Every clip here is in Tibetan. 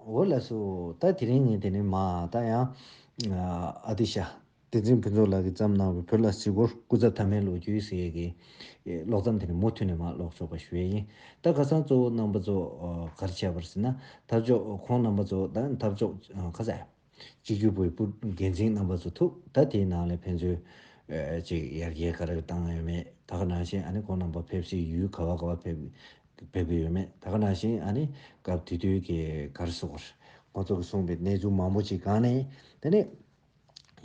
འོ་ལགས་སོ། ད་དེ་རིང་ངས་དེ་ནས་མ་ད་ཡང། ཨ་ཏི་ཤ། བསྟན་འཛིན་ཕུན་ཚོགས་ལགས་ཀྱིས་བརྩམས་གནང་བའི་བོད་ལ་གཟིགས་སྐོར་སྐུ་ཚབ་ཐ་མའི་ལོ་རྒྱུས་ཟེར་གྱི། ཀློག་མཚམས་དེ་ནས་མུ་མཐུད་ནས་མ་ཀློག་ཆོག་པ་ཞུ་ཡས་ཡིན། ད་ཁ་སང་གཙོ་བོ་རྣམ་པ་ཚོ་གར་བྱས་པར་ཟེར་ན། འཐབ་ཕྱོགས་ཁོང་རྣམ་པ་ཚོ་ད་འཐབ་ཕྱོགས་ཁ་ཟས། སྤྱི་ཁྱུ་པོའི་སྤུར་རྒྱལ་མཚན་རྣམ་པ་ཚོ་ཐུག་ད་དེའི་ནང་ལས་ཕན་ཚུན། ཅིག་ཡར་རྒྱས་ག་རེ་བཏང་ཡོད་མེད་ད་ག་ནང་བཞིན་ཨ་ནི་ཁོང་རྣམ་པ་ཕེབས་སའི་ཡུལ་ག་བ་ག་བ་ཕེབས་གི་ཡོད་མེད་ད་ག་ནང་བཞིན་ཨ་ནི་སྐབས་དུས་དུས་ཀྱི་གར་སོགས་རེད། ཁོང་ཚོ་གི་གསུངས་པའི་གནས་ཚུལ་མང་པོ་ཅིག་གང་ནས་དེ་ནས།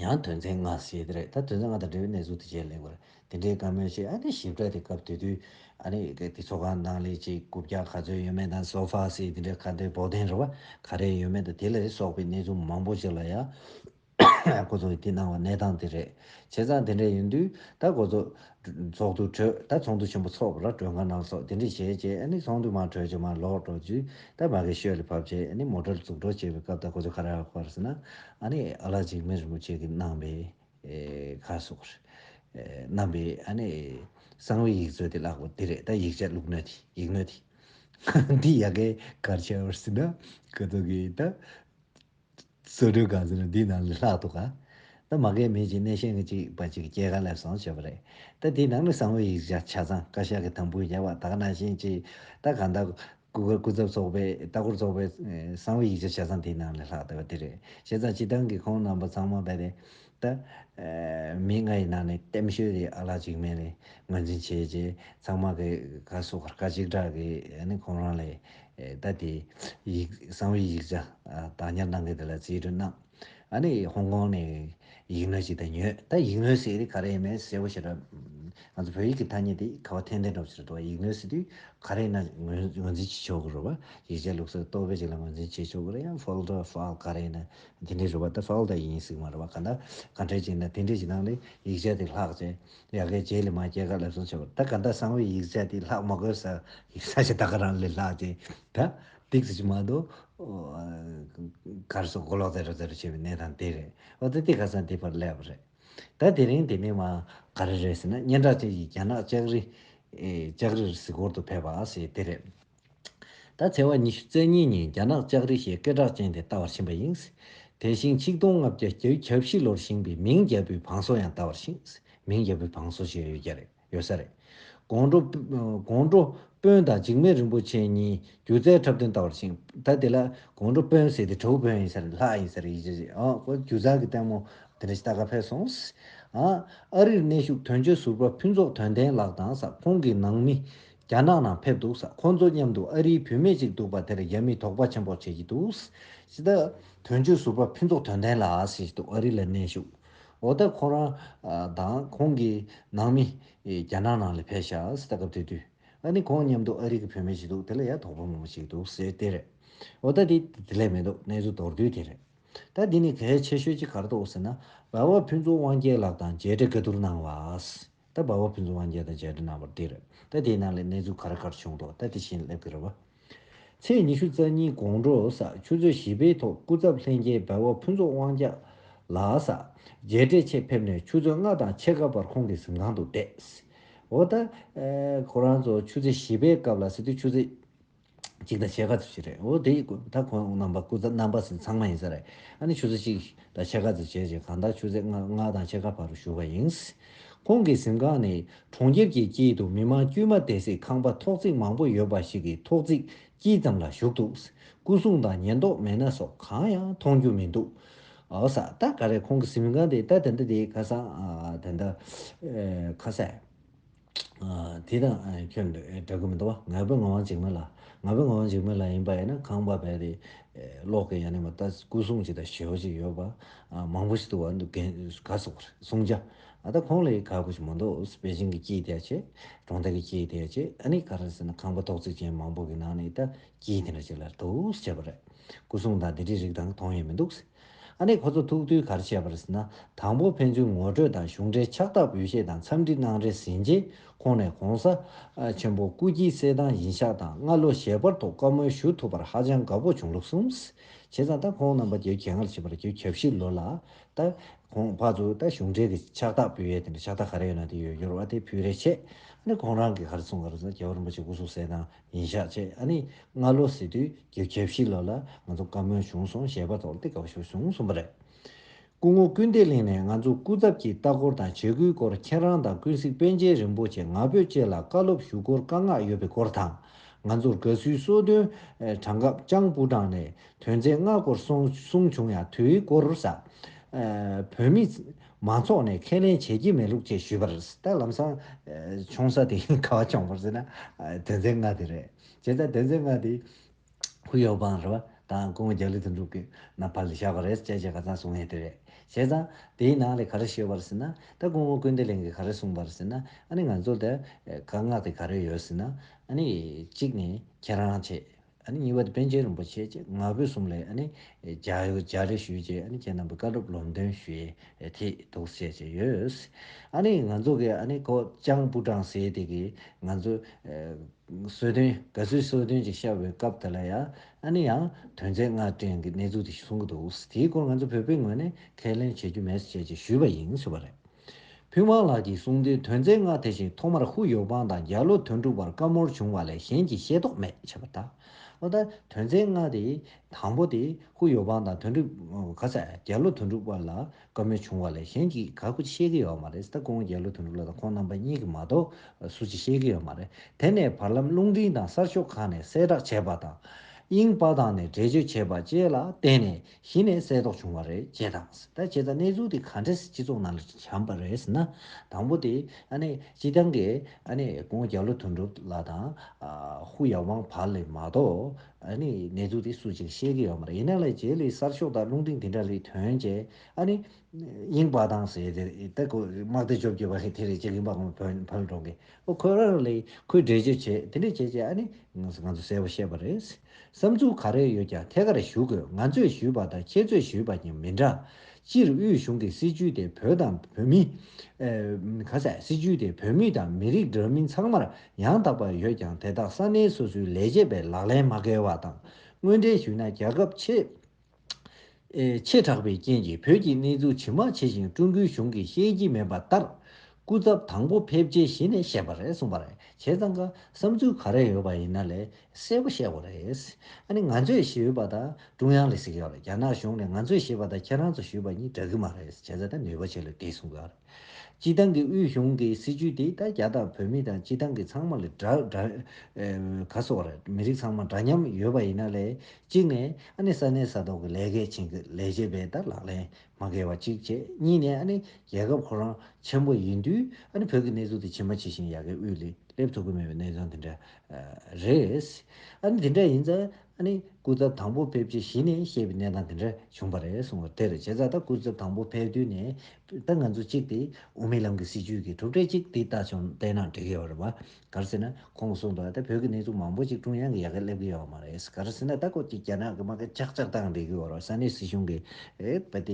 ཡང་དོན་ཚན་ལྔ་ཞེས་དེ་རེད་ད་དོན་ཚན་ལྔ་དང་འབྲེལ་བའི་གནས་ཚུལ་དེ་བཅས་ལེགས་པར་དེ་འདྲའི་བཀའ་མོལ་ཞིག་ཨ་ནི་ཞིབ་ཕྲ་དེ་སྐབས་དེ་དུས་ཨ་ནི་དེ་ཚོགས་ཁང་ནང་ལས་བྱེད་དགུ་བརྒྱ་ག་ཚོད་ཡོད་མེད་དང་སོ་ཧྥ་སི་དེ་འདྲའི་ཁ་འདོན་བོགས་འདོན་རེ་བ་ག་རེ་ཡོད་མེད་དང་དེ་ལས་སོགས་པའི་གནས་ཚུལ་མང་པོ་ཞིག་ལ་ཡང་འགོ་ཚོགས་ཀྱིས་གནང་བ་གནས་སྟངས་དེ་རེད། བྱས་ཙང་དེ་འདྲ་ཡིན་དུས་ད་འགོ་ཚོགས་ཚོགས་འདུ་གྲོལ་ད་ཚོགས་འདུ་ཆེན་པོ་ཚོགས་པ་ལ་གྲོས་འགའ་གནང་སོགས་དེ་འདྲ་བྱས་རྗེས་ཨ་ནི་ཚོགས་འདུ་མང་གྲོལ་རྗེས་མར་ལོག་འགྲོ་དུས་ད་མ་གི་ཤོད་ལས་བབས་རྗེས་ཨ་ནི་མོ་གྲལ་འཛུགས་འགྲོ་བྱས་པའི་སྐབས་ད་འགོ་ཚོགས་ཁ་རག་པར་སེ་ན་ཨ་ནི་ཨ་ལགས་འཇིགས་མེད་རིན་པོ་ཆེ་གིས་གནང་བའི། ཁ་སོགས་རྣམ་པའི་གསང་བའི་ཡིག་མཛོད་དེ་བཀླག་པ་འདི་རེད་ད་ཡིག་ཆ་ལུགས་སྣོད་དེ་ཡིག་སྣོད་དེ། འདི་ཡག་གེ་གར་ཆགས་པར་སྲིད་ན་དགའ་འདུག་གི་ད། བཟོ་སྒྲོས་གང་ཟེར་ན་འདིའི་ནང་ལས་ལྷག་འདུག་ག་ད་མ་གལ་མེད་ཅིག་སྣེ་ཤན་གྱི་ཅིག་པ་ཅིག་སྐྱེས་ག་ལེར་སོང་བྱས་པ་རེད་ད་དེའི་ནང་ནས་གསང་བའི་ཡིག་ཆ་ཆ་ཚང་བཀའ་ཤག་གི་དང་པོའི་རྒྱལ་བ་དག་ན་བཞིན་གྱིས་ད་གང་ལྟར། སྐུ་སྒེར་སྐུ་ཚབ་ཚོགས་པའི་ལྟ་སྐོར་ཚོགས་པའི་གསང་བའི་ཡིག་ཆ་བྱ་ཚང་དེའི་ནང་ལས་ལྷག་བསྡད་པ་དེ་རེད། བྱས་ཙང་སྤྱི་བཏང་གི་ཁོང་རྣམ་པ་ཚང་མ་རྦད་དེ་ད། མི་ལྔ་ཡི་ནང་ནས་གཏེམ་ཤོས་དེ་ཨ་ལགས་གཅིག་མེད་རེད་ངོས་འཛིན་བྱས་རྗེས་ཚང་མ་གི་ག་སོ་གར་ཁ་གཅིག་གྲག་གི་ནི་ཁོང་རང་ལས་ད་དེ་ཡིག་གསང་བའི་ཡིག་ཆ་བདག་ཉར་གནང་མཁན་དེ་ལ་རྩིས་སྤྲོད་གནང། ཨ་ནི་ཧོང་ཀོང་ནས་ཡིག་ནོར་ཅིག་དང་ཉོས་ད་ཡིག་ནོར་ཟེར་ག་རེ་ཡིན་མེད་གསལ་བོ་ཤེས་རབས། ང་ཚོ་བོད་ཡིག་གི་ཐ་སྙད་དེ་ཁ་བ་ཐན་ཐན་སྒྲོག་ཕྱིར་འགྲོ་བ་ཡིག་ནོར་ཟེར་དུས་ག་རེ་ན་ངོས་འཛིན་བྱེད་ཆོག་གི་རུ་བ་ཡིག་ཆ་ལུགས་སྲོལ་གཏོར་བའི་ཅིག་ལ་ངོས་འཛིན་བྱེད་ཆོག་གི་རེད་ཡང་ཧྥོལ་ཏོ་ཧྥལ་ག་རེ་ན་དེ་འདྲའི་རུ་བ་ད་ཧྥལ་ཏོ་ཡིན་ཟིག་མ་རུ་བ་ག་འདྲ་ག་འདྲ་ཅིག་ན་དེ་འདྲའི་ཅིག་ནང་ནས་ཡིག་ཆ་དེ་ལྷག་བྱས་ཡ་གའི་རྗེས་ལས་མ་སྐྱེལ་ག་ལབ་སོང་ཆོག་གི་རེད་ད་ག་འདྲ་བཟང་བའི་ཡིག་ཆ་དེ་ལྷག་མ་དགོས་ས་ཡིག་ས་ཆ་ད་ག་རང་ལས་ལྷག་བྱས་ད་སྟེགས་བཟོ་གྱི་མ་དོ། གར་སོགས་མགོ་ལོག་ཙེ་རུ་ཙེ་རུ་བྱེད་པའི་གནས་དང་དེ་རེད། འོ་ད་སྟེགས་ཁ་སང་དེ་བར་སླེབས་པ་རེད། ད་དེ་རིང་དེ་མིན་མ། ག་རེ་རེད་ཟེར་ན་སྙན་གྲགས་ཅན་གྱི་རྒྱ་ནག་ལྕགས་རི། ལྕགས་རིར་གཟིགས་སྐོར་དུ་ཕེབས་པ་ཞེས་དེ་རེད། ད་ཚེས་བ་ཉི་ཤུ་རྩ་གཉིས་ཉིན་རྒྱ་ནག་ལྕགས་རི་ཞེས་སྐད་གྲགས་ཅན་དེ་བལྟ་བར་ཕྱིན་པ་ཡིན། དེ་བཞིན་ཆིག་སྟོང་ལྔ་བརྒྱ་གྱ་བཞི་ལོར་བཞེངས་པའི་མིང་རྒྱལ་པོའི་བང་སོ་ཡང་བལྟ་བར་ཕྱིན། མིང་རྒྱལ་པོའི་བང་སོ་ཞེས་ཡོད་རྒྱ་རེད། ཡོད་ས་རེད། དགོང་དྲོ། དགོང་དྲོ་དཔོན་དང་འཇིགས་མེད་རིན་པོ་ཆེ་གཉིས་སྒྱུ་རྩལ་འཁྲབ་སྟོན་ལྟ་བར་ཕྱིན། ད་དེ་ལ་དགོང་དྲོ་དཔོན་ཟེར་དེ་དྲོ་དཔོན་ཡིན་ས་རེད་ལྷ་ཡིན་ས་རེད་ཡིད་ཆེས་བྱེད། ཨོ་ཨོ་སྒྱུ་རྩལ་གྱི་ལྟད་མོ། དེ་འདྲ་ཞིག་ད་ག་ཕེབས་སོང། ཨ་རིར་གནས་བཞུགས་དོན་གཅོད་ཟུར་པ་ཕུན་ཚོགས་དོན་ལྡན་ལགས་དང་ས་ཁོང་གི་ནང་མི། རྒྱ་ནག་ནང་ཕེབས་འདུག་ས་ཁོང་ཚོ་མཉམ་དུ་ཨ་རིའི་བུད་མེད་ཅིག་འདུག་པ་དེར་རྒྱ་མིས་དོགས་པ་ཆེན་པོ་བྱེད་ཀྱི་འདུག། དོན་གཅོད་ཟུར་པ་ཕུན་ཚོགས་དོན་ལྡན་ལགས་ཞེས་འདུག་ཨ་རི་ལ་གནས་བཞུགས། འོ་ད་ཁོ་རང་དང་ཁོང་གི་ནང་མི་རྒྱ་ནག་ནང་ལ་ཕེབས་ཤག་ཟེར་ད་སྐབས་དེ་དུས་ཨ་ནི་ཁོང་མཉམ་དུ་ཨ་རིག་གི་བུད་མེད་ཅིག་འདུག་དེ་ལ་ཡ་དོག་པོ་མང་པོ་ཞིག་འདུག་ཟེར་དེ་རེད། འོ་ད་དེ་དེ་ལས་མི་འདུག་གནས་ཚུལ་མདོར་བསྡུས་དེ་རེད། ད་འདི་ནས་གལ་ཆེ་ཤོས་ཅིག་གར་དོགས་ཟེར་ན་འབའ་བ་ཕུན་ཚོགས་དབང་རྒྱལ་ལགས་དང་མཇལ་འཕྲད་ག་དུར་གནང་བ། ད་འབའ་བ་ཕུན་ཚོགས་དབང་རྒྱལ་དང་མཇལ་འཕྲད་གནང་བ་དེ་རེད། ད་དེའི་ནང་ལས་གནས་ཚུལ་ག་ར་ག་ར་བྱུང་འདུག་ད་དེ་བཞིན་སླེབས་གི་རེད་བ། ཚེས་ཉི་ཤུ་རྩ་གཉིས་དགོང་དྲོ་ས་ཆུ་ཚོད་བཞི་པའི་ཐོག་སྐུ་ཚབ་ལྷན་རྒྱས་སྦལ་བ་ཕུན་ཚོགས་དབང་རྒྱལ་ལགས་ས་རྒྱལ་འབྲས་ཆེད་ཕེབས་ནས་ཆུ་ཚོད་ལྔ་དང་ཕྱེད་ཀ་བར་ཁོང་གི་གཟིམ་ཁང་དུ་བསྡད། འོ་ད། ཁོ་རང་ཚོ་ཆུ་ཚོད་བཞི་པའི་སྐབས་ལ་སི་ཏུ་ཆུ་ཚོད་གཅིག་དང་ཕྱེད་ཀ་ཚོ་བྱས་རེད། འོ་དེ་ཡི་ད་ཁོང་རྣམ་པ་སྐུ་ཚབ་རྣམ་པ་ཚོ་ཚང་མ་ཡིན་ས་རེད། ཨ་ནི་ཆུ་ཚོད་གཅིག་དང་ཕྱེད་ཀ་ཚོ་བྱས་རྗེས་གང་ལྟར་ཆུ་ཚོད་ལྔ་དང་ཕྱེད་ཀ་བར་བཞུགས་པ་ཡིན། ཁོང་གི་གཟིམ་ཁང་ནི་གྲོང་ཁྱེར་གྱི་དཀྱིལ་དུ་མི་མང་དཀྱུས་མ་བསྡད་སྲིད་ཁང་པ་ཐོག་བརྩེགས་མང་པོ་ཡོད་པ་ཞིག་གི་ཐོག་བརྩེགས་དཀྱིལ་ཙམ་ལ་བཞུགས་འདུག་སྐུ་གསུང་དང་ཉེན་རྟོག་མེ་སྣ་སོགས་གང་ཡང་མཐོང་རྒྱུ་མི་འདུག་ཨོ་ས་ད་ག་རེ་ཁོང་གི་གཟིམ་ཁང་དེ་ད་དེ་འདྲ་དེ་ཁ་སང་དེ་འདྲ་ཁ་གསལ་དེ་དང་ཁྱོད་འདྲ་གི་མི་འདུག་བ་ང་པོའི་ངག་དབང་འཇིགས་མེད་ལགས་ང་པོའི་ངག་དབང་འཇིགས་མེད་ལགས་ཡིན་པ་ཡིན་ན་ཁང་པ་བལ་དེ་ལོག་གི་ཡ་ནི་མ་ད་སྐུ་གསུང་ཅིག་དང་ཞོལ་ཅིག་ཡོད་པ། མང་པོ་ཞིག་ཏུ་བ་འདུག་གན་ག་སོགས་པར་གསུང་བྱ། ཨ་ད་ཁོང་ལ་ཡི་ག་པོ་ཞིག་མ་འདུག་པེ་ཅིང་གི་སྐྱིད་དེ་ཡ་ཆེ། གྲོང་རྡལ་གི་སྐྱིད་དེ་ཡ་ཆེ་ཨ་ནི་ག་རེད་ཟེར་ན་ཁང་པ་ཐོག་བརྩེགས་ཅན་མང་པོ་གི་ནང་ནས་ཨི་ད་སྐྱིད་དེ་འདྲ་ཞིག་ལ་རེད་འདུག་བྱས་པ་རེད། སྐུ་སྲུང་དང་དེ་འདྲའི་རིགས་དང་མཐོང་ཡས་མི་འདུག་ཟེར། ཨ་ནི་ཁོ་ཚོ་ཐུག་དུས་ག་རེ་བྱས་པ་རེད་ཟེར་ན་དང་པོ་ཕན་ཚུན་ངོ་སྤྲོད་དང་གཞུང་འབྲེལ་ཕྱག་རྟགས་འབུལ་བཤད་དང་འཚམས་འདྲི་གནང་རེས་ཟིན་རྗེས་ཁོང་ནས་གོང་ས་ཆེན་པོ་སྐུ་སྐྱིད་གསལ་ཐང་ཡིན་ཤག་དང་སྔ་ལོ་ཞལ་པར་ཐོག་བཀའ་མོལ་ཞུ་ཐུབ་པར་ཧ་ཅང་དགའ་པོ་བྱུང་ལུགས་གསུངས། བྱས་ཙང་ད་ཁོང་རྣམ་པ་རྒྱའི་གྱེས་ངར་བྱེད་པར་རྒྱའི་ཁྱབ་ཞིབ་ལོ་ལ། ད། ཁོང་ཕ་ཚོ་ད་གཞུང་འབྲེལ་གྱི་ཕྱག་རྟགས་ཕུལ་ཡས་དེ་འདྲ་ཕྱག་རྟགས་ག་རེ་ཡོད་ན་དེ་ཡོད་ཡོད་རོགས་ཨ་དེ་ཕུལ་རེ་ཆེ། ཨ་ནི་ཁོང་རང་གིས་ག་རེ་གསུངས་ག་རེ་གསུངས་རྒྱལ་བ་རིན་པོ་ཆེ་སྐུ་གཟུགས་གསལ་དང་ཡིན་ཤག་ཅེས་ཨ་ནི་སྔ་ལོ་སྲིད་དུས་རྒྱའི་ཁྱབ་ཞིབ་ལོ་ལ་ང་ཚོ་བཀའ་མོལ་བྱུང་སོང་ཞེས་པ་ཐོག་ལ་དེ་ག་བ་ཞིག་བྱུང་གསུངས་པ་རེད། སྐུ་ངོ་སྐུལ་འདེད་གླིང་ནས་ང་ཚོ་སྐུ་ཚབ་ཀྱི་ལྟ་སྐོར་དང་བྱེད་སྒོའི་སྐོར་ཁྱེད་རང་དང་ཀུན་གཟིགས་པཎ་ཆེན་རིན་པོ་ཆེ་ང་ཕོད་བཅས་ལ་བཀའ་སློབ་ཞུ་སྐོར་བཀའ་མངགས་ཡོད་པའི་སྐོར་དང། ང་ཚོར་དགའ་བསུའི་གསོལ་སྟོན་གྲངས་སྐབས་ལྕང་སྤུ་འབྲང་ནས་དོན་ཚན་ལྔ་སྐོར་གསུངས་བྱུང་ཡང་དུས་སྐོར་ས་བོད་མི་མང་ཚོགས་ནས་ཁས་ལེན་བྱེད་ཀྱི་མེད་ལུགས་བཅས་ཞུས་པར་ད་ལམ་སང་ཆུང་ས་དེ་ག་བ་བྱུང་བར་ཟེར་ན་དོན་ཚན་ལྔ་དེ་རེད། བྱས་ཙང་དོན་ཚན་ལྔ་དེ་ཧུའུ་ཡའོ་པང་རེད་པ་དང་ཀུང་རྒྱ་ལི་དོན་གྲུབ་ཀྱི་ནང་ཕར་ལ་བཞག་པ་རེད་ཅེས་བྱས་པ་ག་ཚང་གསུང་ཡས་དེ་རེད། བྱས་ཙང་དེའི་ནང་ལས་ག་རེ་ཤོད་པར་ཟེར་ན་ད་ཀུང་ཨོ་ཀུན་བདེ་ལེགས་ཀྱིས་ག་རེ་གསུང་པར་ཟེར་ན་ཨ་ནི་ང་ཚོ་དེ་ག་མངགས་ཏེ་ག་རེ་ཡོད་ཟེར་ན་ཨ་ནི་གཅིག་ནི་ཁྱེད་རང་བྱས་ཨ་ནི་གཉིས་པ་དེ་པན་ཆེན་རིན་པོ་ཆེ་བཅས་ང་ཕོད་གསུམ་ལས་ཨ་ནི་བྱ་ཡོད་བྱ་རེ་ཞུས་རྗེས་ཨ་ནི་ཁྱེད་རྣམ་པའི་བཀའ་སྒྲུབ་ལོམ་སྟོན་ཞུ་ཡས་དེ་འདུག་ཅེས་བྱས་ཡོད། ཨ་ནི་ང་ཚོ་གི་ཨ་ནི་ཀོ་ཅང་པུའུ་ཀྲང་ཟེར་དེ་གིས་ང་ཚོ་གསོལ་སྟོན། ག་ཚོད་གསོལ་སྟོན་གྱི་བཤད་པའི་སྐབས་དེ་ལ་ཡ་ཨ་ནི་ཡང་དོན་ཚད་ལྔ་སྟོན་གྱི་གནས་ཚུལ་དེ་གསུང་གི་འདུག་དེའི་སྐོར་ང་ཚོ་བོད་པའི་ངོས་ནས་ཁས་ལེན་བྱེད་རྒྱུ་མེད་ཅེས་ཀྱི་ཞུས་པ་ཡིན་ཞུས་པ་རེད། ཕུན་དབང་ལགས་ཀྱིས་གསུང་དོན་དོན་ཚད་ལྔ་དེ་བཞིན་ཐོག་མར་ཧུ་ཡོ་པང་དང་རྒྱ་ལོ་དོན་གྲུབ་བར་བཀའ་མོལ་བྱུང་བ་ལས་གཞན་གྱི་ཤེས་རྟོགས་མེད་བྱས་པ་དང། ཨོ་ད་དོན་ཚད་ལྔ་དེ་དང་པོ་དེ་ཧུ་ཡོ་པང་དང་དོན་གྲུབ། ག་ཚད་རྒྱ་ལོ་དོན་གྲུབ་བར་ལ་བཀའ་མོལ་བྱུང་བ་ལས་གཞན་གྱིས་ག་གུ་ཅི་བཤད་ཀྱི་ཡོད་མ་རེད་ད་ཀོང་རྒྱལ་ལོ་དོན་གྲུབ་ལགས་དང་ཁོང་རྣམ་པ་གཉིས་ཀྱིས་མ་གཏོགས་སུ་ཅི་བཤད་ཀྱི་ཡོད་མ་རེད་དེ་ནས་བར་ལམ་རླུང་འཕྲིན་དང་གསར་ཤོག་ཁག་ནས་གསལ་བསྒྲགས་བྱས་པ་དང། དབྱིངས་དཔའ་ཐང་ནས་འགྲེལ་བརྗོད་བྱས་པ་བཅས་ལ་བརྟེན་ནས་གཞི་ནས་གསལ་རྟོགས་བྱུང་བ་རེད་ཅེས་དང། ད་བྱས་ཙང་གནས་ཚུལ་དེ་ག་འདྲས་སྤྱི་ཚོགས་ནང་ལ་བྱམས་པ་རེད་ཟེར་ན། དང་པོ་དེ། སྤྱི་བཏང་གི། ཀོང་རྒྱལ་ལོ་དོན་གྲུབ་ལགས་དང། ཧུའུ་ཡའོ་ཝང་བར་ལས་མ་གཏོགས། ཨ་ནི་ནད་དུག་དེ་སུ་ཅིག་ཤེས་ཀྱི་ཡོད་མ་རེད་ཡིན་ན་ལས་བྱེད་ལས་གསར་ཤོག་དང་རླུང་འཕྲིན་དེ་འདྲ་ལས་དོན་བྱས་ཨ་ནི། དབྱིངས་དཔའ་དང་ཟེར་དེ་རེད་ད་ཁོས་དམག་སྡེ་བཅོ་བརྒྱད་པ་ལས་དེ་རེད་ཅེས་དབྱིངས་དཔའ་ཁོང་བོད་བོད་ལ་འགྲོ་དགོས་ཨོ་ཁོས་རང་རང་ལས་ཁོས་འགྲེལ་བརྗོད་བྱས་དེ་འདྲས་བྱས་རྗེས་ཨ་ནི། ང་ཚོས་གསལ་པོ་ཤེས་པ་རེད། བསམ་ཚུལ་ག་རེ་ཡོད་ཀྱང་ཐད་ཀར་ཞུ་དགོས་ང་ཚོས་ཞུས་པ་དང་ཁྱེད་ཚོས་ཞུས་པ་གཉིས་མི་འདྲ། སྤྱིར་དབུས་གཞུང་གི་སྲིད་བྱུས་དེ་བོད་དང་བོད་མི། ག་ཚད་སྲིད་བྱུས་དེ་བོད་མི་དང་མི་རིགས་འདྲ་མིན་ཚང་མར་ཡང་དག་པར་ཡོད་ཀྱང་དེ་དག་ས་གནས་སོ་སོའི་ལས་བྱེད་པའི་ལག་ལེན་མ་འགལ་བ་དང་དངོས་འབྲེལ་ཞུས་ན་རྒྱལ་ཁབ་ཆེ་དྲགས་པའི་རྐྱེན་གྱིས་བོད་ཀྱི་གནས་ཚུལ་ཇི་མ་ཇི་བཞིན་ཀྲུང་གོའི་གཞུང་གིས་ཤེས་ཀྱི་མེད་པ་ལྟར། སྐུ་ཚབ་དང་པོ་ཕེབས་རྗེས་གཞི་ནས་བཤད་པ་རེད་གསུངས་པ་རེད་བྱས་ཙང་ཀ་བསམ་ཚུལ་ག་རེ་ཡོད་པ་ཡིན་ན་ལས་གསལ་བོ་བཤད་དགོས་རེད། ཨ་ནི་ང་ཚོས་ཞུས་པ་དང་ཀྲུང་དབྱང་ལས་གཟིགས་ཡོད་རེད་རྒྱ་ནག་གཞུང་ནས་ང་ཚོས་ཞུས་པ་དང་ཁྱེད་རང་ཚོ་ཞུས་པ་གཉིས་འདྲ་གི་མ་རེད་བྱས་ཙང་ནུས་པ་ཆེ་ལོས་དེ་གསུངས་དགོས་ཨ་རེད། སྤྱི་བཏང་གི་དབུས་གཞུང་གི་སྲིད་ཇུས་དེ་ད་རྒྱ་དང་བོད་མི་དང་སྤྱི་བཏང་གི་ཚང་མ་ལས་འདྲ། ག་སོག་ར་མི་རིགས་ཚང་མ་འདྲ་མཉམ་ཡོད་པ་ཡིན་ན་ལས་གཅིག་ནས་ཨ་ནི་ས་གནས་ས་ཐོག་གི་ལས་གལ་ཆེན་གི་ལས་བྱེད་པས་ད་ལག་ལེན་མ་འགལ་བ་གཅིག་བྱས་གཉིས་ནས་ཨ་ནི་རྒྱལ་ཁབ་ཁོ་རང་ཆེན་པོ་ཡིན་དུས་ཨ་ནི་བོད་གི་གནས་ཚུལ་དེ་ཇི་མ་ཇི་བཞིན་ཡ་གི་དབུས་ལས་སླེབས་ཐུབ་གི་མེད་པའི་གནས་དོན་དེ་འདྲ་རེད། ཨ་ནི་དེ་འདྲ་ཡིན་ཙང། ཨ་ནི་སྐུ་ཚབ་དང་པོ་ཕེབས་རྗེས་གཞི་ནས་བཤད་པའི་གནས་སྟངས་དེ་འདྲ་བྱུང་བ་རེད་གསུངས་བར་དེར་བྱས་ཙང་ད་སྐུ་ཚབ་དང་པོ་ཕེབས་དུས་ནས་ད་ང་ཚོ་གཅིག་དེ་འོས་མི་ལང་གི་སྲིད་ཇུས་ཀྱི་གྲུབ་འབྲས་གཅིག་དེ་ལྟ་བྱུང་བལྟས་ན་འགྲིག་ཡོད་རེད་བ། ག་རེ་ཟེར་ན་ཁོང་གསུངས་འདུག་ད་བོད་ཀྱི་གནས་ཚུལ་མང་པོ་གཅིག་ཀྲུང་དབྱང་གི་ཡ་ག་སླེབས་ཀྱི་ཡོད་པ་མ་རེད་ག་རེ་ཟེར་ན་ད་ཁོ་གཅིག་རྒྱ་ནག་གི་དམག་གི་ཆག་ཆག་དང་རེད་ཀྱི་ཡོད་རེད་ས་གནས་སྲིད་གཞུང་གི་བ་དེ་བོད་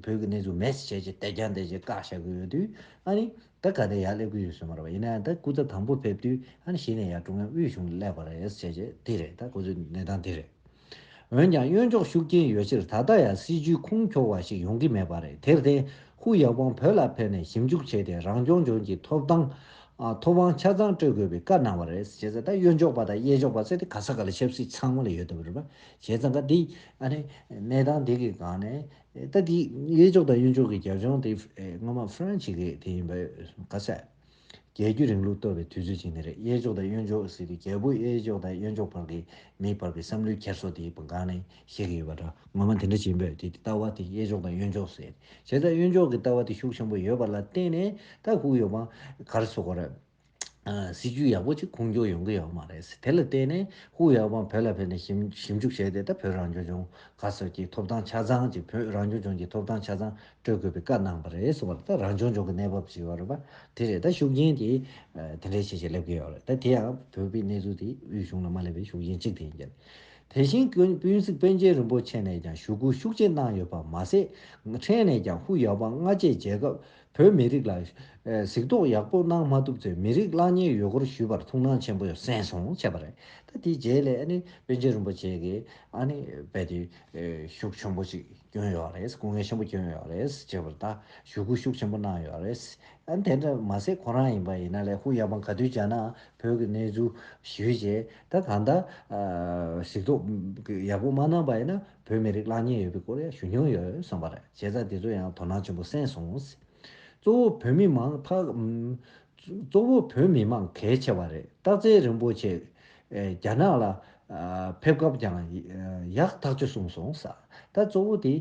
ཀྱི་གནས་ཚུལ་མེད་ཟེར་བྱས་རྗེས་དད་ཀྱང་དད་རྗེས་བཀག་བཞག་གི་ཡོད་དུས་ཨ་ནི། ད་ག་དེ་ཡར་སླེབས་ཀྱི་ཡོད་སྲོལ་མ་རེད་པ་ཡིན་ན་ཡང་ད་སྐུ་ཚབ་དང་པོ་ཕེབས་དུས་ཨ་ནི་གཞི་ནས་ཡར་ཀྲུང་དབྱང་དབུས་གཞུང་ལ་སླེབས་པ་རེད་ཟེར་བྱས་རྗེས་དེ་རེད་ད་ཁོ་ཚོའི་གནས་སྟངས་དེ་རེད། འོན་ཀྱང་གཡོན་ཕྱོགས་ཤུགས་རྐྱེན་ཡོད་ཕྱིར་ད་ལྟ་ཡང་སྲིད་བྱུས་ཁུངས་འཁྱོལ་བ་ཞིག་ཡོང་གི་མེད་པ་རེད་དེར་བརྟེན་ཧུའུ་ཡའོ་པང་བོད་ལ་ཕེབས་ནས་ཞིབ་འཇུག་བྱས་ཏེ་རང་སྐྱོང་ལྗོངས་ཀྱི་ཐོབ་ཐང། ཐོབ་དབང་ཆ་ཚང་སྤྲོད་དགོས་པའི་བཀའ་གནང་བ་རེད་ཟེར་བྱས་ད་གཡོན་ཕྱོགས་པ་དང་གཡས་ཕྱོགས་པ་ཟེར་ཏེ་ག་ས་ག་ལ་ཆབ་སྲིད་ཚང་མ་ལ་ཡོད་དམ་རེད་པ་བྱས་ཙང་ག་དེ་ཨ་ནི་གནས་སྟངས་དེ་གི་སྒང་ནས། ད་ལྟའི་གཡས་འཇོག་དང་གཡོན་འཇོག་གི་རྒྱབ་ལྗོངས་དེ་སྔོན་མ་ཧྥ་རན་ཞིག་གི་དེ་ཡིན་པ་ག་ཚད། རྒྱལ་རྒྱུད་རིང་ལུགས་གཏོར་བའི་དུས་ཚོད་ཅིག་ནི་རེད་གཡས་འཇོག་དང་གཡོན་འཇོག་ཟེར་དུས་རྒྱལ་པོ་གཡས་འཇོག་དང་གཡོན་འཇོག་བར་གྱི་མིའི་བར་གྱི་བསམ་བློའི་འཁྱེར་སོ་དེ་སྒང་ནས་ཤེས་ཀྱི་ཡོད་པ་འདྲ་ངོ་མ་དེ་འདྲ་བྱེད་འབོད་དེ་ལྟ་བ་དེ་གཡས་འཇོག་དང་གཡོན་འཇོག་ཟེར། བྱས་ཙང་གཡོན་འཇོག་གི་ལྟ་བ་དེ་ཤུགས་ཆེན་པོ་ཡོད་པ་ལ་བརྟེན་ནས་ད་ཁུག་ཡོད་པ་གར་སོ་གོ་རེད། སྲིད་ཇུས་ཡག་པོ་ཅིག་ཁུངས་འཁྱོལ་ཡོང་གི་ཡོད་མ་རེད། དེ་ལ་བརྟེན་ནས་ཧུའུ་ཡའོ་པང་བོད་ལ་ཕེབས་ནས་ཞིབ་ཞིབ་འཇུག་བྱས་ཏེ་ད་བོད་རང་སྐྱོང་ལྗོངས་ག་སོགས་ཀྱི་ཐོབ་ཐང་ཆ་ཚང་གཅིག་བོད་རང་སྐྱོང་ལྗོངས་ཀྱི་ཐོབ་ཐང་ཆ་ཚང་སྤྲོད་དགོས་པའི་བཀའ་གནང་བ་རེད་གསུངས་པ་རེད་ད་རང་སྐྱོང་ལྗོངས་ཀྱི་གནས་བབ་ཅིག་ཡོད་པ་དེ་རེད་ད་ཤུགས་རྐྱེན་དེ་དེ་འདྲའི་ཆེ་ཆེ་སླེབས་ཀྱི་ཡོད་རེད་ད་དེ་ཡང་བོད་པའི་གནས་ཚུལ་དེ་དབུས་གཞུང་ལ་མ་སླེབས་པའི་ཤུགས་རྐྱེན་གཅིག་དེ་ཡིན་རྒྱུ་རེད། དེ་བཞིན་དབུས་གཙང་པཎ་ཆེན་རིན་པོ་ཆེ་ནས་ཀྱང་ཞུ་སྐུལ་ཤུགས་ཆེ་གནང་ཡོད་པ་མ་ཟད་ཕྲན་ནས་ཀྱང་ཧུའུ་ཡའོ་པང་སྔ་རྗེས་མཇལ་སྐབས་བོད་མི་རིགས་ལ་གཟིགས་རྟོག་ཡག་པོ་གནང་མ་ཐུབ་ཚེ་མི་རིགས་གླག་རྙེད་ཡོད་སྐོར་ཞུས་པར་ཐུགས་སྣང་ཆེན་པོ་གསན་སོང་བྱས་པ་རེད། ད་དེའི་རྗེས་ལས་ཨ་ནི་པཎ་ཆེན་རིན་པོ་ཆེ་གིས་ཨ་ནི་རྦད་དེ་ཤུགས་ཆེན་པོ་ཞིག་བསྐྱོན་ཡོད་རེད། སྐུ་ངལ་ཆེན་པོ་བསྐྱོན་ཡོད་རེད་ཅེས་པར་ད་ཞུ་སྐུལ་ཤུགས་ཆེན་པོ་གནང་ཡོད་རེད། ཨ་ནི་དེ་འདྲ་མ་ཟད་ཁོ་རང་ཡིན་པ་ཡིན་ན་ལས་ཁུངས་ཡག་པོ་ག་དུས་བྱས་ནའང་བོད་ཀྱི་གནས་ཚུལ་ཞུས་རྗེས་ད་གང་ལྟར་གཟིགས་རྟོག་ཡག་པོ་མ་གནང་པ་ཡིན་ན་བོད་མི་རིགས་གླགས་རྙེད་ཡོད་པའི་སྐོར་ཡང་ཞུ་མྱོང་ཡོད་བསམ་པ་རེད་བྱས་ཙང་དེ་ཚོ་ཡང་དོ་སྣང་ཆེན་པོ་སེང་སོང། གཙོ་བོ་བོད་མི་མང་ཐག། གཙོ་བོ་བོད་མི་མང་གལ་ཆེ་བ་རེད་སྟག་རྩེ་རིན་པོ་ཆེ། རྒྱ་ནག་ལ། ཕེབས་སྐབས་ཀྱང། ཡག་ཐག་ཆོད་གསུངས་སོང། ད་གཙོ་བོ་དེ།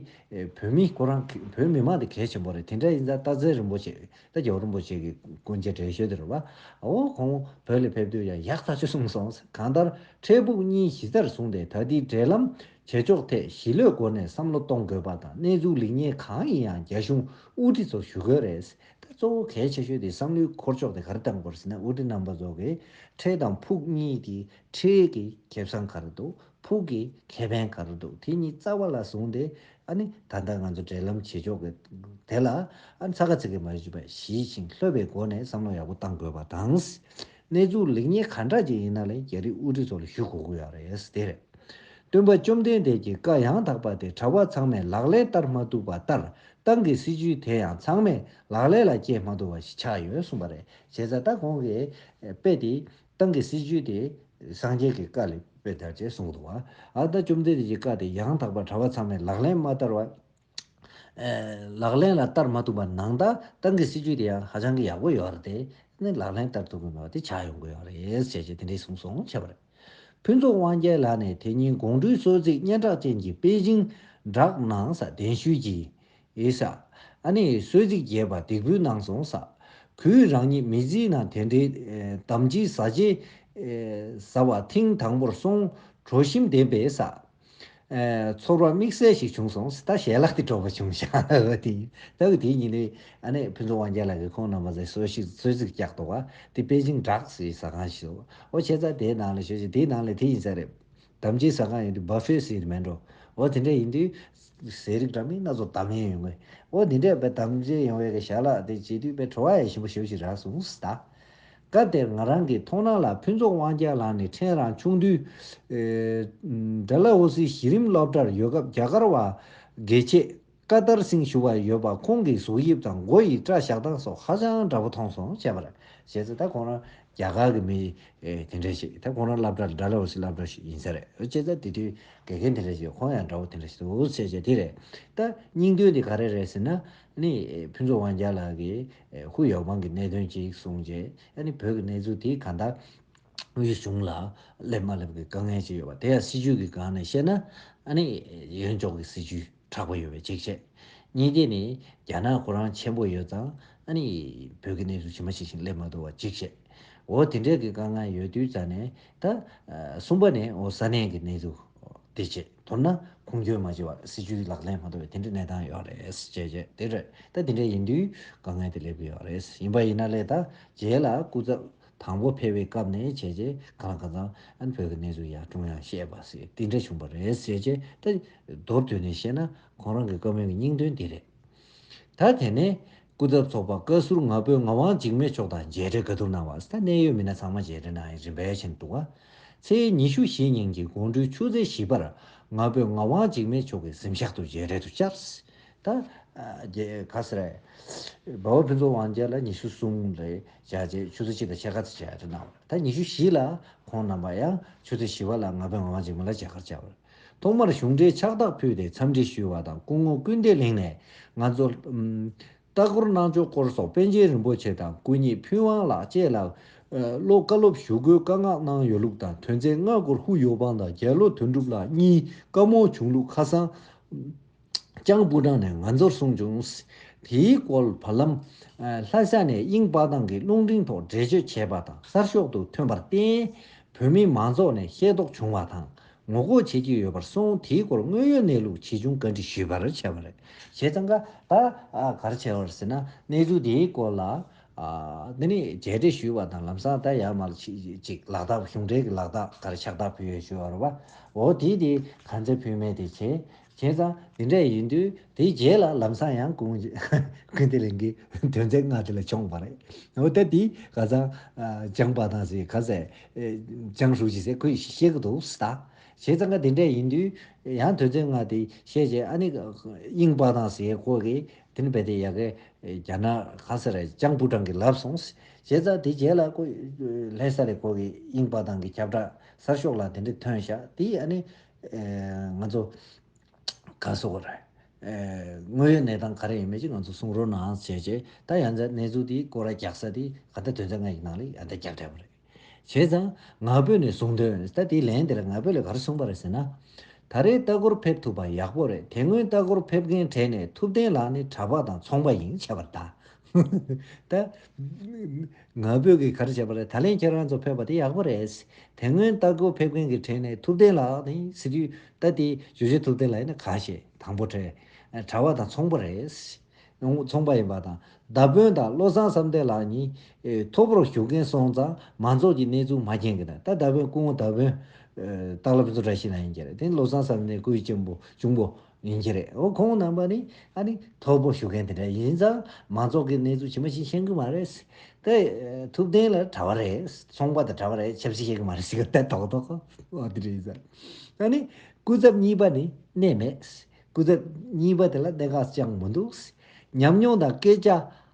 བོད་མི་ཁོ་རང་བོད་མི་མང་དེ་གལ་ཆེན་པོ་རེད་དེ་འདྲ་ཡིན་ཙང་སྟག་རྩེ་རིན་པོ་ཆེ། རྟ་མགྱོགས་རིན་པོ་ཆེ་གི་སྐུ་མཇལ་འཕྲད་ཞོར་དུ་རོའོ་ཁོང་བོད་ལ་ཕེབས་དུས་ཡང་ཡག་ཐག་ཆོད་གསུངས་སོང་གང་ལྟར་འཕྲལ་ཕུགས་གཉིས་གཞི་རྩར་བཟུང་སྟེ་ད་ལྟའི་འབྲེལ་ལམ་བྱེད་ཕྱོགས་ཐད་ཞི་ལྷོད་སྒོ་ནས་བསམ་བློ་གཏོང་དགོས་པ་དང་གནས་ཚུལ་ལེགས་ཉེས་གང་ཡིན་ཡང་རྒྱ་གཞུང་དབུ་ཁྲིད་ཚོར་ཞུ་དགོས་རེད་ད་གཙོ་བོ་གལ་ཆེ་ཤོས་དེ་བསམ་བློའི་འཁོར་ཕྱོགས་དེ་གར་བཏང་དགོས་རེད་ཟེར་ན་དབུ་ཁྲིད་རྣམ་པ་ཚོ་གི་འཕྲལ་དང་ཕུགས་གཉིས་ཀྱི་འཕྲལ་གྱི་ཁེབས་སང་གར་འདུག་ཕུགས་ཀྱི་ཁེ་ཕན་ག་རེ་འདུག་དེ་གཉིས་རྩ་བ་ལ་བཟུང་སྟེ་ཨ་ནི་ད་ལྟ་ང་ཚོ་འབྲེལ་ལམ་བྱེད་ཕྱོགས་ཀྱི་དེ་ལ་ཨ་ནི་ཚ་ཁ་ཚིག་གིས་མ་གཞི་པ་ཞིས་ཤིང་ལྷོད་པའི་སྒོ་ནས་བསམ་བློ་ཡག་པོ་གཏང་དགོས་པ་དང། གནས་ཚུལ་ལེགས་ཉེས་ག་འདྲ་ཅིག་ཡིན་ན་ལས་རྒྱ་རིགས་དབུ་ཁྲིད་ཚོ་ལ་ཞུ་དགོས་ཀྱི་ཡོད་རེད་དེ་རེད། སྟོན་པ་བཅོམ་ལྡན་འདས་ཀྱི་བཀའ་ཡང་དག་པ་དེ་གྲྭ་བ་ཚང་མས་ལག་ལེན་བསྟར་མ་ཐུབ་པ་ལྟར་ཏང་གི་སྲིད་ཇུས་དེ་ཡང་ཚང་མས་ལག་ལེན་ལ་བསྐྱེལ་མ་ཐུབ་པ་ཞིག་ཆགས་ཡོད་གསུངས་པ་རེད་བྱས་ཙང་ད་གོང་གི་དཔེ་དེ་ཏང་གི་སྲིད་ཇུས་དེ་སངས་རྒྱས་ཀྱི་བཀའ་ལས་པའི་དར་ཅེས་གསུངས་འདུག་བ། ཨཱ་ད་བཅོམ་ལྡན་འདས་ཀྱི་བཀའ་དེ་ཡང་དག་པར་གྲྭ་བ་ཚང་མས་ལག་ལེན་མ་བསྟར་བ། ལག་ལེན་ལ་བསྟར་མ་ཐུབ་པ་ནང་ད་ཏང་གི་སྲིད་ཇུས་དེ་ཡང་ཧ་ཅང་གི་ཡག་པོ་ཡོད་རེད་དེ། ནི་ལག་ལེན་བསྟར་ཐུབ་ཀྱི་མེད་པ་དེ་ཆགས་ཡོང་གི་ཡོད་རེད་ཟེར་ཅེས་དེ་འདྲའི་གསུངས་སོང་བྱས་པ་རེད། ཕུན་ཚོགས་དབང་རྒྱལ་ལགས་ནས་དེ་ཉིན་དགོང་དྲོའི་གསོལ་ཚིགས་སྙན་གྲགས་ཅན་གྱི་པེ་ཅིང་བསྒྲགས་གནང་ས་གདན་ཞུས་ཀྱིས། ཨེ་ཤ། ཨ་ནེ་ཡི་གསོལ་ཚིགས་རྒྱས་པ་འདེགས་འབུལ་གནང་སོང་ས། གུས་རང་ཉིད་མི་བརྫི་ན་དེ་འདྲའི་དམ་བཅའི་ཟ་བྱེད། ཟ་བ་ཐེངས་དང་པོར་སོང་གྲོ་ཞིམ་ལྡན་པའི་ས། ཚོར་བ་དམིགས་བསལ་ཞིག་བྱུང་སོང་ས་ཞལ་ལག་དེ་དྲོ་བ་བྱུང་ཤག་ཨོ་དེ་ཡིན་ད་དེ་ཉིན་ནས་ཨ་ནེ་ཕུན་ཚོགས་དབང་རྒྱལ་ལགས་ཀྱིས་ཁོང་རྣམ་པ་ཚོའི་གསོལ་ཤིག་གསོལ་ཚིགས་བཀྱག་འདུག་ག་དེ་པེ་ཅིང་བྲག་ཟེ་ཟ་ཁང་ཞིག་ཟོ་ཨོ་བྱས་ཙང་དེའི་ནང་ལ་ཞོད་ཅིག་དེའི་ནང་ལ་དེ་ཡིན་ས་རེད། དམ་བཅའི་ཟ་ཁང་ཡིན་དུས་སྦ་ཕེ་ཟེར་མེད་འགྲོ། ཨོ་དེ་འདྲས་ཡིན་དུས། ཟས་རིགས་འདྲ་མིན་སྣ་ཚོགས་དམ་ཡེ་ཡོང་གི། ཨོ་དེ་འདྲས་དཔེ་དམ་བཅའི་ཡོང་བའི་གི་ཞག་ལ་དེ་བྱེད་དུས་དཔེ་བྲོ་བ་ཡ་ཞིམ་པོ་ཞོ་ཞིག་རག་སོང་ཟླ། སྐབས་དེར་ང་རང་གི་མཐོང་སྣང་ལ་ཕུན་ཚོགས་དབང་རྒྱལ་ལགས་ནི་ཕྲན་རང་ཆུང་དུས། ཨེ། འདྲ་ལ་ཨོ་སི་གཞི་རིམ་སློབ་གྲྭར་ཡོད་སྐབས་རྒྱ་གར་བ། དགེ་ཆེ། བཀའ་ལྟར་སྲིང་ཞུ་བ་ཡོད་པ་ཁོང་གི་གཟུགས་དབྱིབས་དང་མགོ་ཡི་སྐྲ་བཞག་སྟངས་སོགས་ཧ་ཅང་འདྲ་པོ་མཐོང་སོང་བྱས་པར་བྱས་ཚེ་ད་ཁོང་རང་རྒྱ་གར་གི་མི་དེ་འདྲ་ཞིག་ད་ཁོང་རང་བསླབ་གྲྭ་འདྲ་ལ་འོ་སི་བསླབ་གྲྭ་ཞིག་ཡིན་ས་རེད་བྱས་ཚེ་དེ་དུས་དགེ་རྒན་དེ་འདྲ་ཞིག་ཁོང་ཡང་འདྲ་བོ་དེ་འདྲ་ཞིག་འདུག་བྱས་བྱས་དེ་རེད། ད་སྙིང་དོན་དེ་ག་རེ་རེད་ཟེར་ན་ནི་ཕུན་ཚོགས་དབང་རྒྱལ་ལགས་ཀྱིས་ཧུ་ཡའོ་པང་གི་གནད་དོན་གཅིག་གསུངས་རྗེས་ཨ་ནི་བོད་ཀྱི་གནས་ཚུལ་དེ་གང་དག་དབུས་གཞུང་ལ་སླེབས་མ་སླེབས་ཀྱི་དཀའ་ངལ་ཅིག་ཡོད་པ་དེ་ཡང་སྲིད་བྱུས་ཀྱི་སྒང་ནས་བཤད་ན་ཨ་ནི་ཡོན་ལྕོག་གི་སྲིད་བྱུས། དྲག་པོ་ཡོད་པའི་གཅིག་བྱས། གཉིས་ཀའི་ནི་རྒྱ་ནག་ཁོ་རང་ཆེན་པོ་ཡོད་ཙང་ཨ་ནི་བོད་ཀྱི་གནས་ཚུལ་ཇི་མ་ཇི་བཞིན་སླེབས་མ་ཐུབ་བ་གཅིག་བྱས། འོ་དེ་འདྲའི་གི་དཀའ་ངལ་ཡོད་དུས་རྩ་ནས་ད། གསུམ་པ་ནི་འོ་ས་གནས་ཀྱི་གནས་ཚུལ་དེ་བྱས་མཐོར་ན་ཁུངས་སྐྱོན་མ་བྱས་བར་སྲིད་ཇུས་ལག་ལེན་མ་ཐུབ་པའི་དེ་འདྲའི་གནས་སྟངས་ཡོད་རེད་བྱས་བྱས་དེ་རེད་ད་དེ་འདྲའི་ཡིན་དུས་དཀའ་ངལ་དེ་སླེབས་ཀྱི་ཡོད་རེད་ཡིན་པ་ཡིན་ན་ལས་ད་རྗེས་ལ་སྐུ་ཚབ། དང་པོ་ཕེབས་པའི་སྐབས་ནས་བྱས་རྗེས་ག་རང་ག་ཚང་ཨན་བོད་ཀྱི་གནས་ཚུལ་ཡང་ཀྲུང་དབྱང་ཤེས་པ་སི་ཏི་འདྲ་བྱུང་པ་རེད་ཟེར་རྗེས་ད་མདོར་བསྡུས་ནས་བཤད་ན་ཁོང་རང་གི་བཀའ་མོལ་གྱི་སྙིང་དོན་འདི་རེད། ད་དེ་ནས་སྐུ་ཚབ་ཚོགས་པ་བཀའ་ཟུར་ང་ཕོད་ངག་དབང་འཇིགས་མེད་མཆོག་དང་མཇལ་འཕྲད་ག་དུར་གནང་བ་སི་ད་གནད་ཡོད་མི་སྣ་ཚང་མ་མཇལ་འཕྲད་གནང་ཡང་རིན་བལ་ཆེན་འདུག་ག་ཚེས་ཉི་ཤུ་བཞི་ཉིན་གྱི་དགོང་དྲོའི་ཆུ་ཚོད་བཞི་པར་ང་ཕོད་ངག་དབང་འཇིགས་མེད་མཆོག་གི་གཟིམ་ཤག་ཏུ་མཇལ་འཕྲད་དུ་བཅར། ད་རྒྱལ་ག་ས་རེད། འབའ་བ་ཕུན་ཚོགས་དབང་རྒྱལ་ལ་ཉི་ཤུ་གསུམ་ལས་བཞག་རྗེས་ཆུ་ཚོད་གཅིག་དང་ཕྱེད་ཀ་ཚེ་བཅད་དུ་གནང་བ་རེད་ད་ཉི་ཤུ་བཞི་ལ་ཁོང་རྣམ་པ་ཡང་ཆུ་ཚོད་བཞི་བ་ལ་ང་ཕོད་ངག་དབང་འཇིགས་མེད་ལ་མཇལ་ཁར་བཅར་བ་རེད། ཐོག་མར་གཞུང་འབྲེལ་ཕྱག་རྟགས་ཕུལ་ཏེ་འཚམས་འདྲི་ཞུས་བ་དང་སྐུ་ངོ་སྐུལ་འདེད་གླིང་ནས་ང་ཚོར། ལྟ་སྐོར་གནང་ཕྱོགས་སྐོར་སོགས་པཎ་ཆེན་རིན་པོ་ཆེ་དང་སྐུ་ཉིད་ཕུན་དབང་ལགས་བཅས་ལ་བློ་བཀའ་སློབ་ཞུ་སྒོའི་བཀའ་མངགས་གནང་ཡོད་ལུགས་དང་དོན་ཚན་ལྔ་སྐོར་ཧུའུ་ཡོ་པང་དང་རྒྱལ་ལོ་དོན་གྲུབ་ལགས་གཉིས་བཀའ་མོལ་བྱུང་ལུགས་ཁ་སང། ཅང་སྤུ་དྲངས་ནས་ང་ཚོར་གསུངས་བྱུང། དེའི་སྐོར་བར་ལམ། ལྷ་ས་ནས་དབྱིངས་དཔག་ཐང་གི་རླུང་འཕྲིན་ཐོག་འགྲེལ་བརྗོད་བྱས་པ་དང་གསར་ཤོག་ཏུ་ཐོན་པར་བརྟེན། བོད་མི་མང་ཚོགས་ནས་ཤེས་རྟོགས་བྱུང་བ་དང་ངོ་ལྐོག་བྱེད་ཀྱི་ཡོད་པར་སོང་དེའི་སྐོར་དངོས་ཡོད་གནས་ལུགས་ཇི་བྱུང་བཀའ་འདྲི་ཞུས་པར་བྱས་པ་རེད། བྱས་ཙང་ཀ་ད་གར་བྱས་པར་ཟེར་ན་གནས་ཚུལ་དེའི་སྐོར་ལ། འདི་ནས་མཇལ་འཕྲད་ཞུས་པ་དང་ལམ་སང་ད་ཡར་མར་ཅིག་ལག་རྟགས་གཞུང་འབྲེལ་གྱི་ལག་རྟགས་གར་ཕྱག་རྟགས་ཕུལ་ཡོད་ཞུས་པར་བ་འོ་དེ་དེ་གར་འཛད་ཕུལ་མེད་དེ་བྱས་བྱས་ཙང་དེ་འདྲ་ཡིན་དུས་དེའི་རྗེས་ལ་ལམ་སང་ཡང་ཀུན་དགའི་ལིང་གི་དོན་ཚན་ལྔ་དེ་ལ་འཁྱོངས་པ་རེད། འོ་ད་དེའི་ག་ཚང་སྦྱངས་པ་དང་ཟེར་ག་ཚད་སྦྱངས་ཤུགས་ཅིག་ཟེར་ཁོས་ཤེས་ཀྱི་འདུག་ཟེར་ད། བྱས་ཙང་ཀ་དེ་འདྲ་ཡིན་དུས་ཡང་དོན་ཚན་ལྔ་དེ་བཤད་བྱས་ཨ་ནི་གཡེང་པ་དང་ཟེར་ཁོ་གིས་དེ་ནི་རྦད་དེ་ཡག་གི་རྒྱ་ནག་ག་ཚད་ར་སྤྱང་སྤུ་དྲང་གིས་ལབ་སོང། བྱས་ཙང་དེའི་རྗེས་ལ་ལྷས་ས་ལས་ཁོ་གིས་གཡེང་པ་དང་གི་ཁྱབ་བསྒྲགས་གསར་ཤོག་ལ་དེ་འདྲ་ཐོན་ཤག་དེས་ཨ་ནི་ང་ཚོ་ག་སོ་ག་རེད། དངོས་ཡོད་གནས་སྟངས་ག་རེ་ཡིན་མེད་ཅིག་ང་ཚོ་གསུང་རོགས་གནང་བྱས་རྗེས་ད་ཡང་ཛའི་གནས་ཚུལ་དེའི་སྐོར་རྒྱག་ས་དེ་ག་ད་དོན་ཚན་ལྔ་ཡི་ནང་ལས་ཡང་ད་རྒྱག་འཕྲལ་བ་རེད། བྱས་ཙང་ང་ཕོད་ནས་གསུང་དོན་ད་དེའི་ལན་དེ་ལ་ང་ཕོད་ལས་ག་རེ་གསུང་པ་རེད་ཟེར་ན། ད་རེའི་ལྟ་སྐོར་ཕེབས་ཐུབ་པ་ཡག་པོ་རེད་དེ་སྔོན་ལྟ་སྐོར་ཕེབས་མཁན་གྲས་ནས་ཐུབ་བསྟན་ལགས་ནི་གྲྭ་པ་དང་ཚོང་པ་ཡིན་ཆད་པར་ད་ད། ང་བོད་ཀྱི་གར་བྱས་པ་རེད་ད་ལན་ཁྱེད་རང་ཚོ་ཕེབས་པ་དེ་ཡག་པོ་རེད། དེ་སྔོན་རྟ་སྒོ་ཕེབས་མཁན་གྱི་གྲས་ནས་ཐུབ་བསྟན་ལགས་དེ་སི་རི་རྟ་སྟེ་ཇོ་ཇོ་ཐུབ་བསྟན་ལགས་ཡིན་ན་ག་བྱེད་དང་པོ་གྲས་གྲ་བ་དང་ཚོང་པ་རེད། ཚོང་པ་ཡིན་པ་དང་མདའ་དཔོན་དང་བློ་བཟང་བསམ་གཏན་ལགས་གཉིས་མཐོ་པོར་བཞུགས་མཁན་སོང་ཙང་མང་ཚོགས་ཀྱི་གནས་ཚུལ་མ་མཁྱེན་གི་དང་ད་མདའ་དཔོན་སྐུ་ངོ་མདའ་དཔོན་སྟག་ལ་བུ་ཚོ་གྲ་བྱེད་ན་ཡིན་གྱི་རེད་དེ་བློ་བཟང་བསམ་གཏན་སྐུའི་གཅེན་པོ་གཅུང་པོ། ཡིན་གྱི་རེད་འོ་ཁོང་རྣམ་པ་ནི་ཨ་ནི་ཐོར་བུ་ཞུ་མཁན་དེ་འདྲ་ཡིན་ཙང་མང་ཚོགས་ཀྱི་གནས་ཚུལ་ཇི་མ་ཇི་ཤེས་གི་མ་རེད་སེ་ཏེ། ཐུབ་བསྟན་ལ་གྲྭ་བ་རེད་ཚོང་པ་དང་གྲྭ་བ་རེད་ཆབ་སྲིད་ཤེས་གི་མ་རེད་ཟེར་གི་ལྟད་ཐོག་ཐོག་ཨོ་དེ་རེད་ཟེར། ཨ་ནི་སྐུ་ཚབ་གཉིས་པ་ནི་གནས་མེད་སྐུ་ཚབ་གཉིས་པ་དེ་ལ་གནད་འགག་ཅང་མི་འདུག་ཉམས་མྱོང་དང་སྐད་ཆ་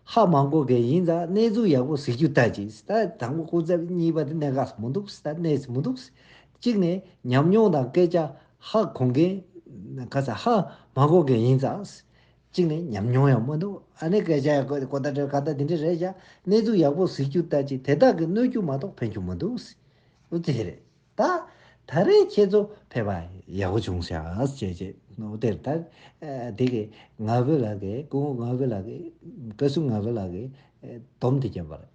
ཧ་མང་གོ་མཁན་ཡིན་ཙང་གནས་ཚུལ་ཡག་པོ་གཟིགས་རྒྱུ་ལྟ་ཅི་སེ་ད་དང་པོ་སྐུ་ཚབ་གཉིས་པ་དེ་གནད་འགག་མི་འདུག་ད་གནས་སུ་མི་འདུག་གཅིག་ནས་ཉམས་མྱོང་དང་སྐད་ཆ་ཧ་གོ་མཁན། ཁ་ཚ་ཧ་མ་གོ་མཁན་ཡིན་ཙང། གཅིག་ནས་ཉམས་མྱོང་ཡང་མ་འདུག་ཨ་ནེ་སྐད་ཆ་ཡང་གོ་གོ་ད་དྲན་ག་ད་དེ་འདྲས་རེད་བཞག་གནས་ཚུལ་ཡག་པོ་གཟིགས་རྒྱུ་ལྟ་ཅི་དེ་དག་གི་གནོད་རྒྱུ་མ་གཏོགས་ཕན་རྒྱུ་མ་འདུག་ཨོ་དེ་རེད་ད། ད་རེས་ཁྱེད་ཚོ་ཕེབས་པ་ཡག་པོ་བྱུང་ཤག་ཅེས་བརྗོད་ཨོ་དེ་རེད་ད། དེ་གས་ང་བོད་ལགས་ཀྱིས་སྐུ་ངོ་ང་བོད་ལགས་ཀྱིས་བཀའ་ཟུར་ང་བོད་ལགས་ཀྱིས་སྡོམ་དེ་བརྒྱབ་པ་རེད།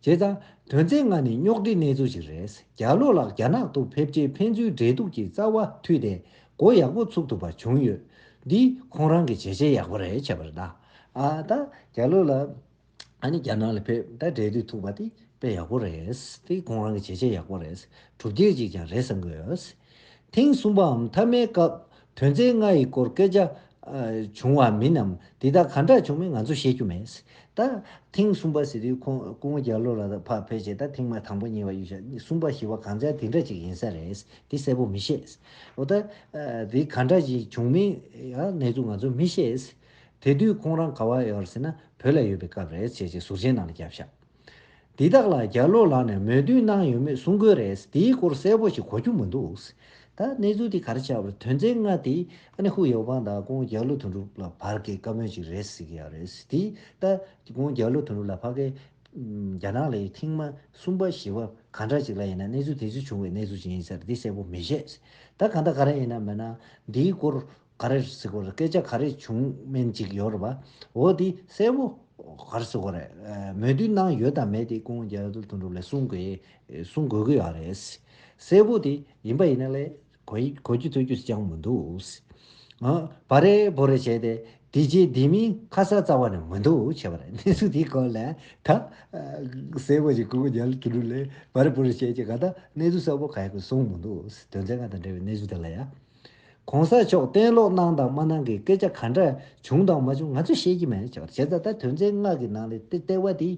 བྱས་ཙང། དོན་ཚན་ལྔ་ནི་རྙོག་དྲའི་གནས་ཚུལ་ཞིག་རེད། རྒྱ་ལོ་ལགས་རྒྱ་ནག་ཏུ་ཕེབས་རྗེས་ཕན་ཚུན་འབྲེལ་གཏུག་གི་རྩ་བ་མཐུད་དེ་སྒོ་ཡག་པོ་ཚུགས་ཐུབ་པ་བྱུང་ཡོད། འདི་ཁོང་རང་གི་བྱས་རྗེས་ཡག་པོ་རེད་བྱས་པ་རེད། ཨ་ད་རྒྱ་ལོ་ལགས་ནི་རྒྱ་ནག་ལ་ཕེབས་ད་འབྲེལ་གཏུག་ཐུབ་པ་དེ་དཔེ་ཡག་པོ་རེད། འདི་ཁོང་རང་གི་བྱས་རྗེས་ཡག་པོ་རེད། གྲུབ་འབྲས་ཅིག་ཀྱང་རེད་བསམ་གི་ཡོད། ཐེངས་གསུམ་པའམ་མཐའ་མའི་སྐབས་དོན་ཚན་ལྔ་ཡི་སྐོར་སྐད་ཆ། བྱུང་བ་མིན་ནམ་དེ་དག་གང་འདྲ་བྱུང་མིན་ང་ཚོ་ཤེས་རྒྱུ་མེད། ད། ཐེངས་གསུམ་པ་ཟེར་དུས་ཁོང་སྐུ་ངོ་བརྒྱ་ལོ་ལ་ཕར་ཕེབས་རྗེས་ད་ཐེངས་མ་དང་པོ་གཉིས་པ་གཡུལ་ཞག་གསུམ་པ་བཞི་བ་གང་ཅག་དེ་འདྲ་ཅིག་ཡིན་ས་རེད་དེ་གསལ་པོ་མི་ཤེས། འོ་ད། དེ་གང་འདྲ་ཞིག་བྱུང་མིན་ཡང་གནས་ཚུལ་ང་ཚོ་མི་ཤེས། དེ་དུས་ཁོང་རང་ག་བ་ཡོད་རེད་ཟེར་ན་བོད་ལ་ཡོད་པའི་སྐབས་རེད་ཅེས་ཅེས་ཟུར་མཆན་ནང་ལ་བརྒྱབ་ཞག། འདི་དག་ལ་རྒྱ་ལོ་ལགས་ནས་མོས་མཐུན་གནང་ཡོད་མེད་གསུང་དགོས་རེད་དེའི་སྐོར་གསལ་པོ་ཞིག་གོ་རྒྱུ་མི་འདུག་ད་གནས་ཚུལ་དེ་གར་ཆགས་པར་དོན་ཚན་ལྔ་དེ་ཨ་ནེ་ཧུའུ་ཡའོ་པང་དང་ཀོང་རྒྱ་ལོ་དོན་གྲུབ་ལ་བར་གྱི་བཀའ་མོལ་ཅིག་རེད་ཟེར་གྱི་ཡོད་རེད་དེ་ལྟ་ཀོང་རྒྱ་ལོ་དོན་གྲུབ་ལ་ཕ་གི་རྒྱ་ནག་ལའི་ཐེངས་མ་གསུམ་པ་བཞི་པ་གང་འདྲ་ཅིག་ལ་ཡིན་ན་གནས་ཚུལ་དེ་ཚོ་བྱུང་བའི་གནས་ཚུལ་ཅིག་ཡིན་ཟེར་དེ་གསལ་པོ་མི་ཤེས་ད་གང་ལྟར་ག་རེ་ཡིན་ན་མེད་ན་འདིའི་སྐོར་ག་རེ་རེད་སི་གོ་རེད་སྐད་ཆ་ག་རེ་བྱུང་སྨན་ཅིག་ཡོད་རེད་བ་འོ་དེ་གསལ་བོ་ག་རེ་སི་གོ་རེད་མོས་མཐུན་གནང་ཡོད་དམ་མེད་དེ་ཀོང་རྒྱལ་དོན་གྲུབ་ལས་གསུང་དགོས་གསུང་དགོས་ཀྱི་ཡོད་རེད་སི་གསལ་བོ་དེ་ཡིན་པ་ཡིན་ན་ལས་གོ་གོ་རྒྱུ་ཐོས་རྒྱུ་སི་ཅང་མི་འདུག་སི་ཨ་བ་རེ་བོ་རེ་བྱས་ཏེ་དེ་རྗེས་དེ་མིན་ཁ་གསལ་རྩ་བ་ནས་མི་འདུག་བྱས་པ་རེད་གནས་ཚུལ་དེའི་སྐོར་ལས་ད་གསལ་བོ་ཞིག་ཀོང་རྒྱལ་དོན་གྲུབ་ལས་བ་རེ་བོ་རེ་བྱས་ཀྱི་ག་ད་གནས་ཚུལ་གསལ་བོ་ག་ཡག་གི་གསུང་མི་འདུག་སི་དོན་ཚན་ཁ་དང་འབྲེལ་བའི་གནས་ཚུལ་དེ་ལ་ཡ། གོང་ས་མཆོག་གཏན་སློག་གནང་དང་མ་གནང་གི་སྐད་ཆ་ག་འདྲ་བྱུང་དང་མ་བྱུང་ང་ཚོས་ཤེས་ཀྱི་མེད་ཅེས་པར་བྱས་ཙང་ད་དོན་ཚན་ལྔ་གི་ནང་ལས་དེ་ལྟེ་བ་དེ་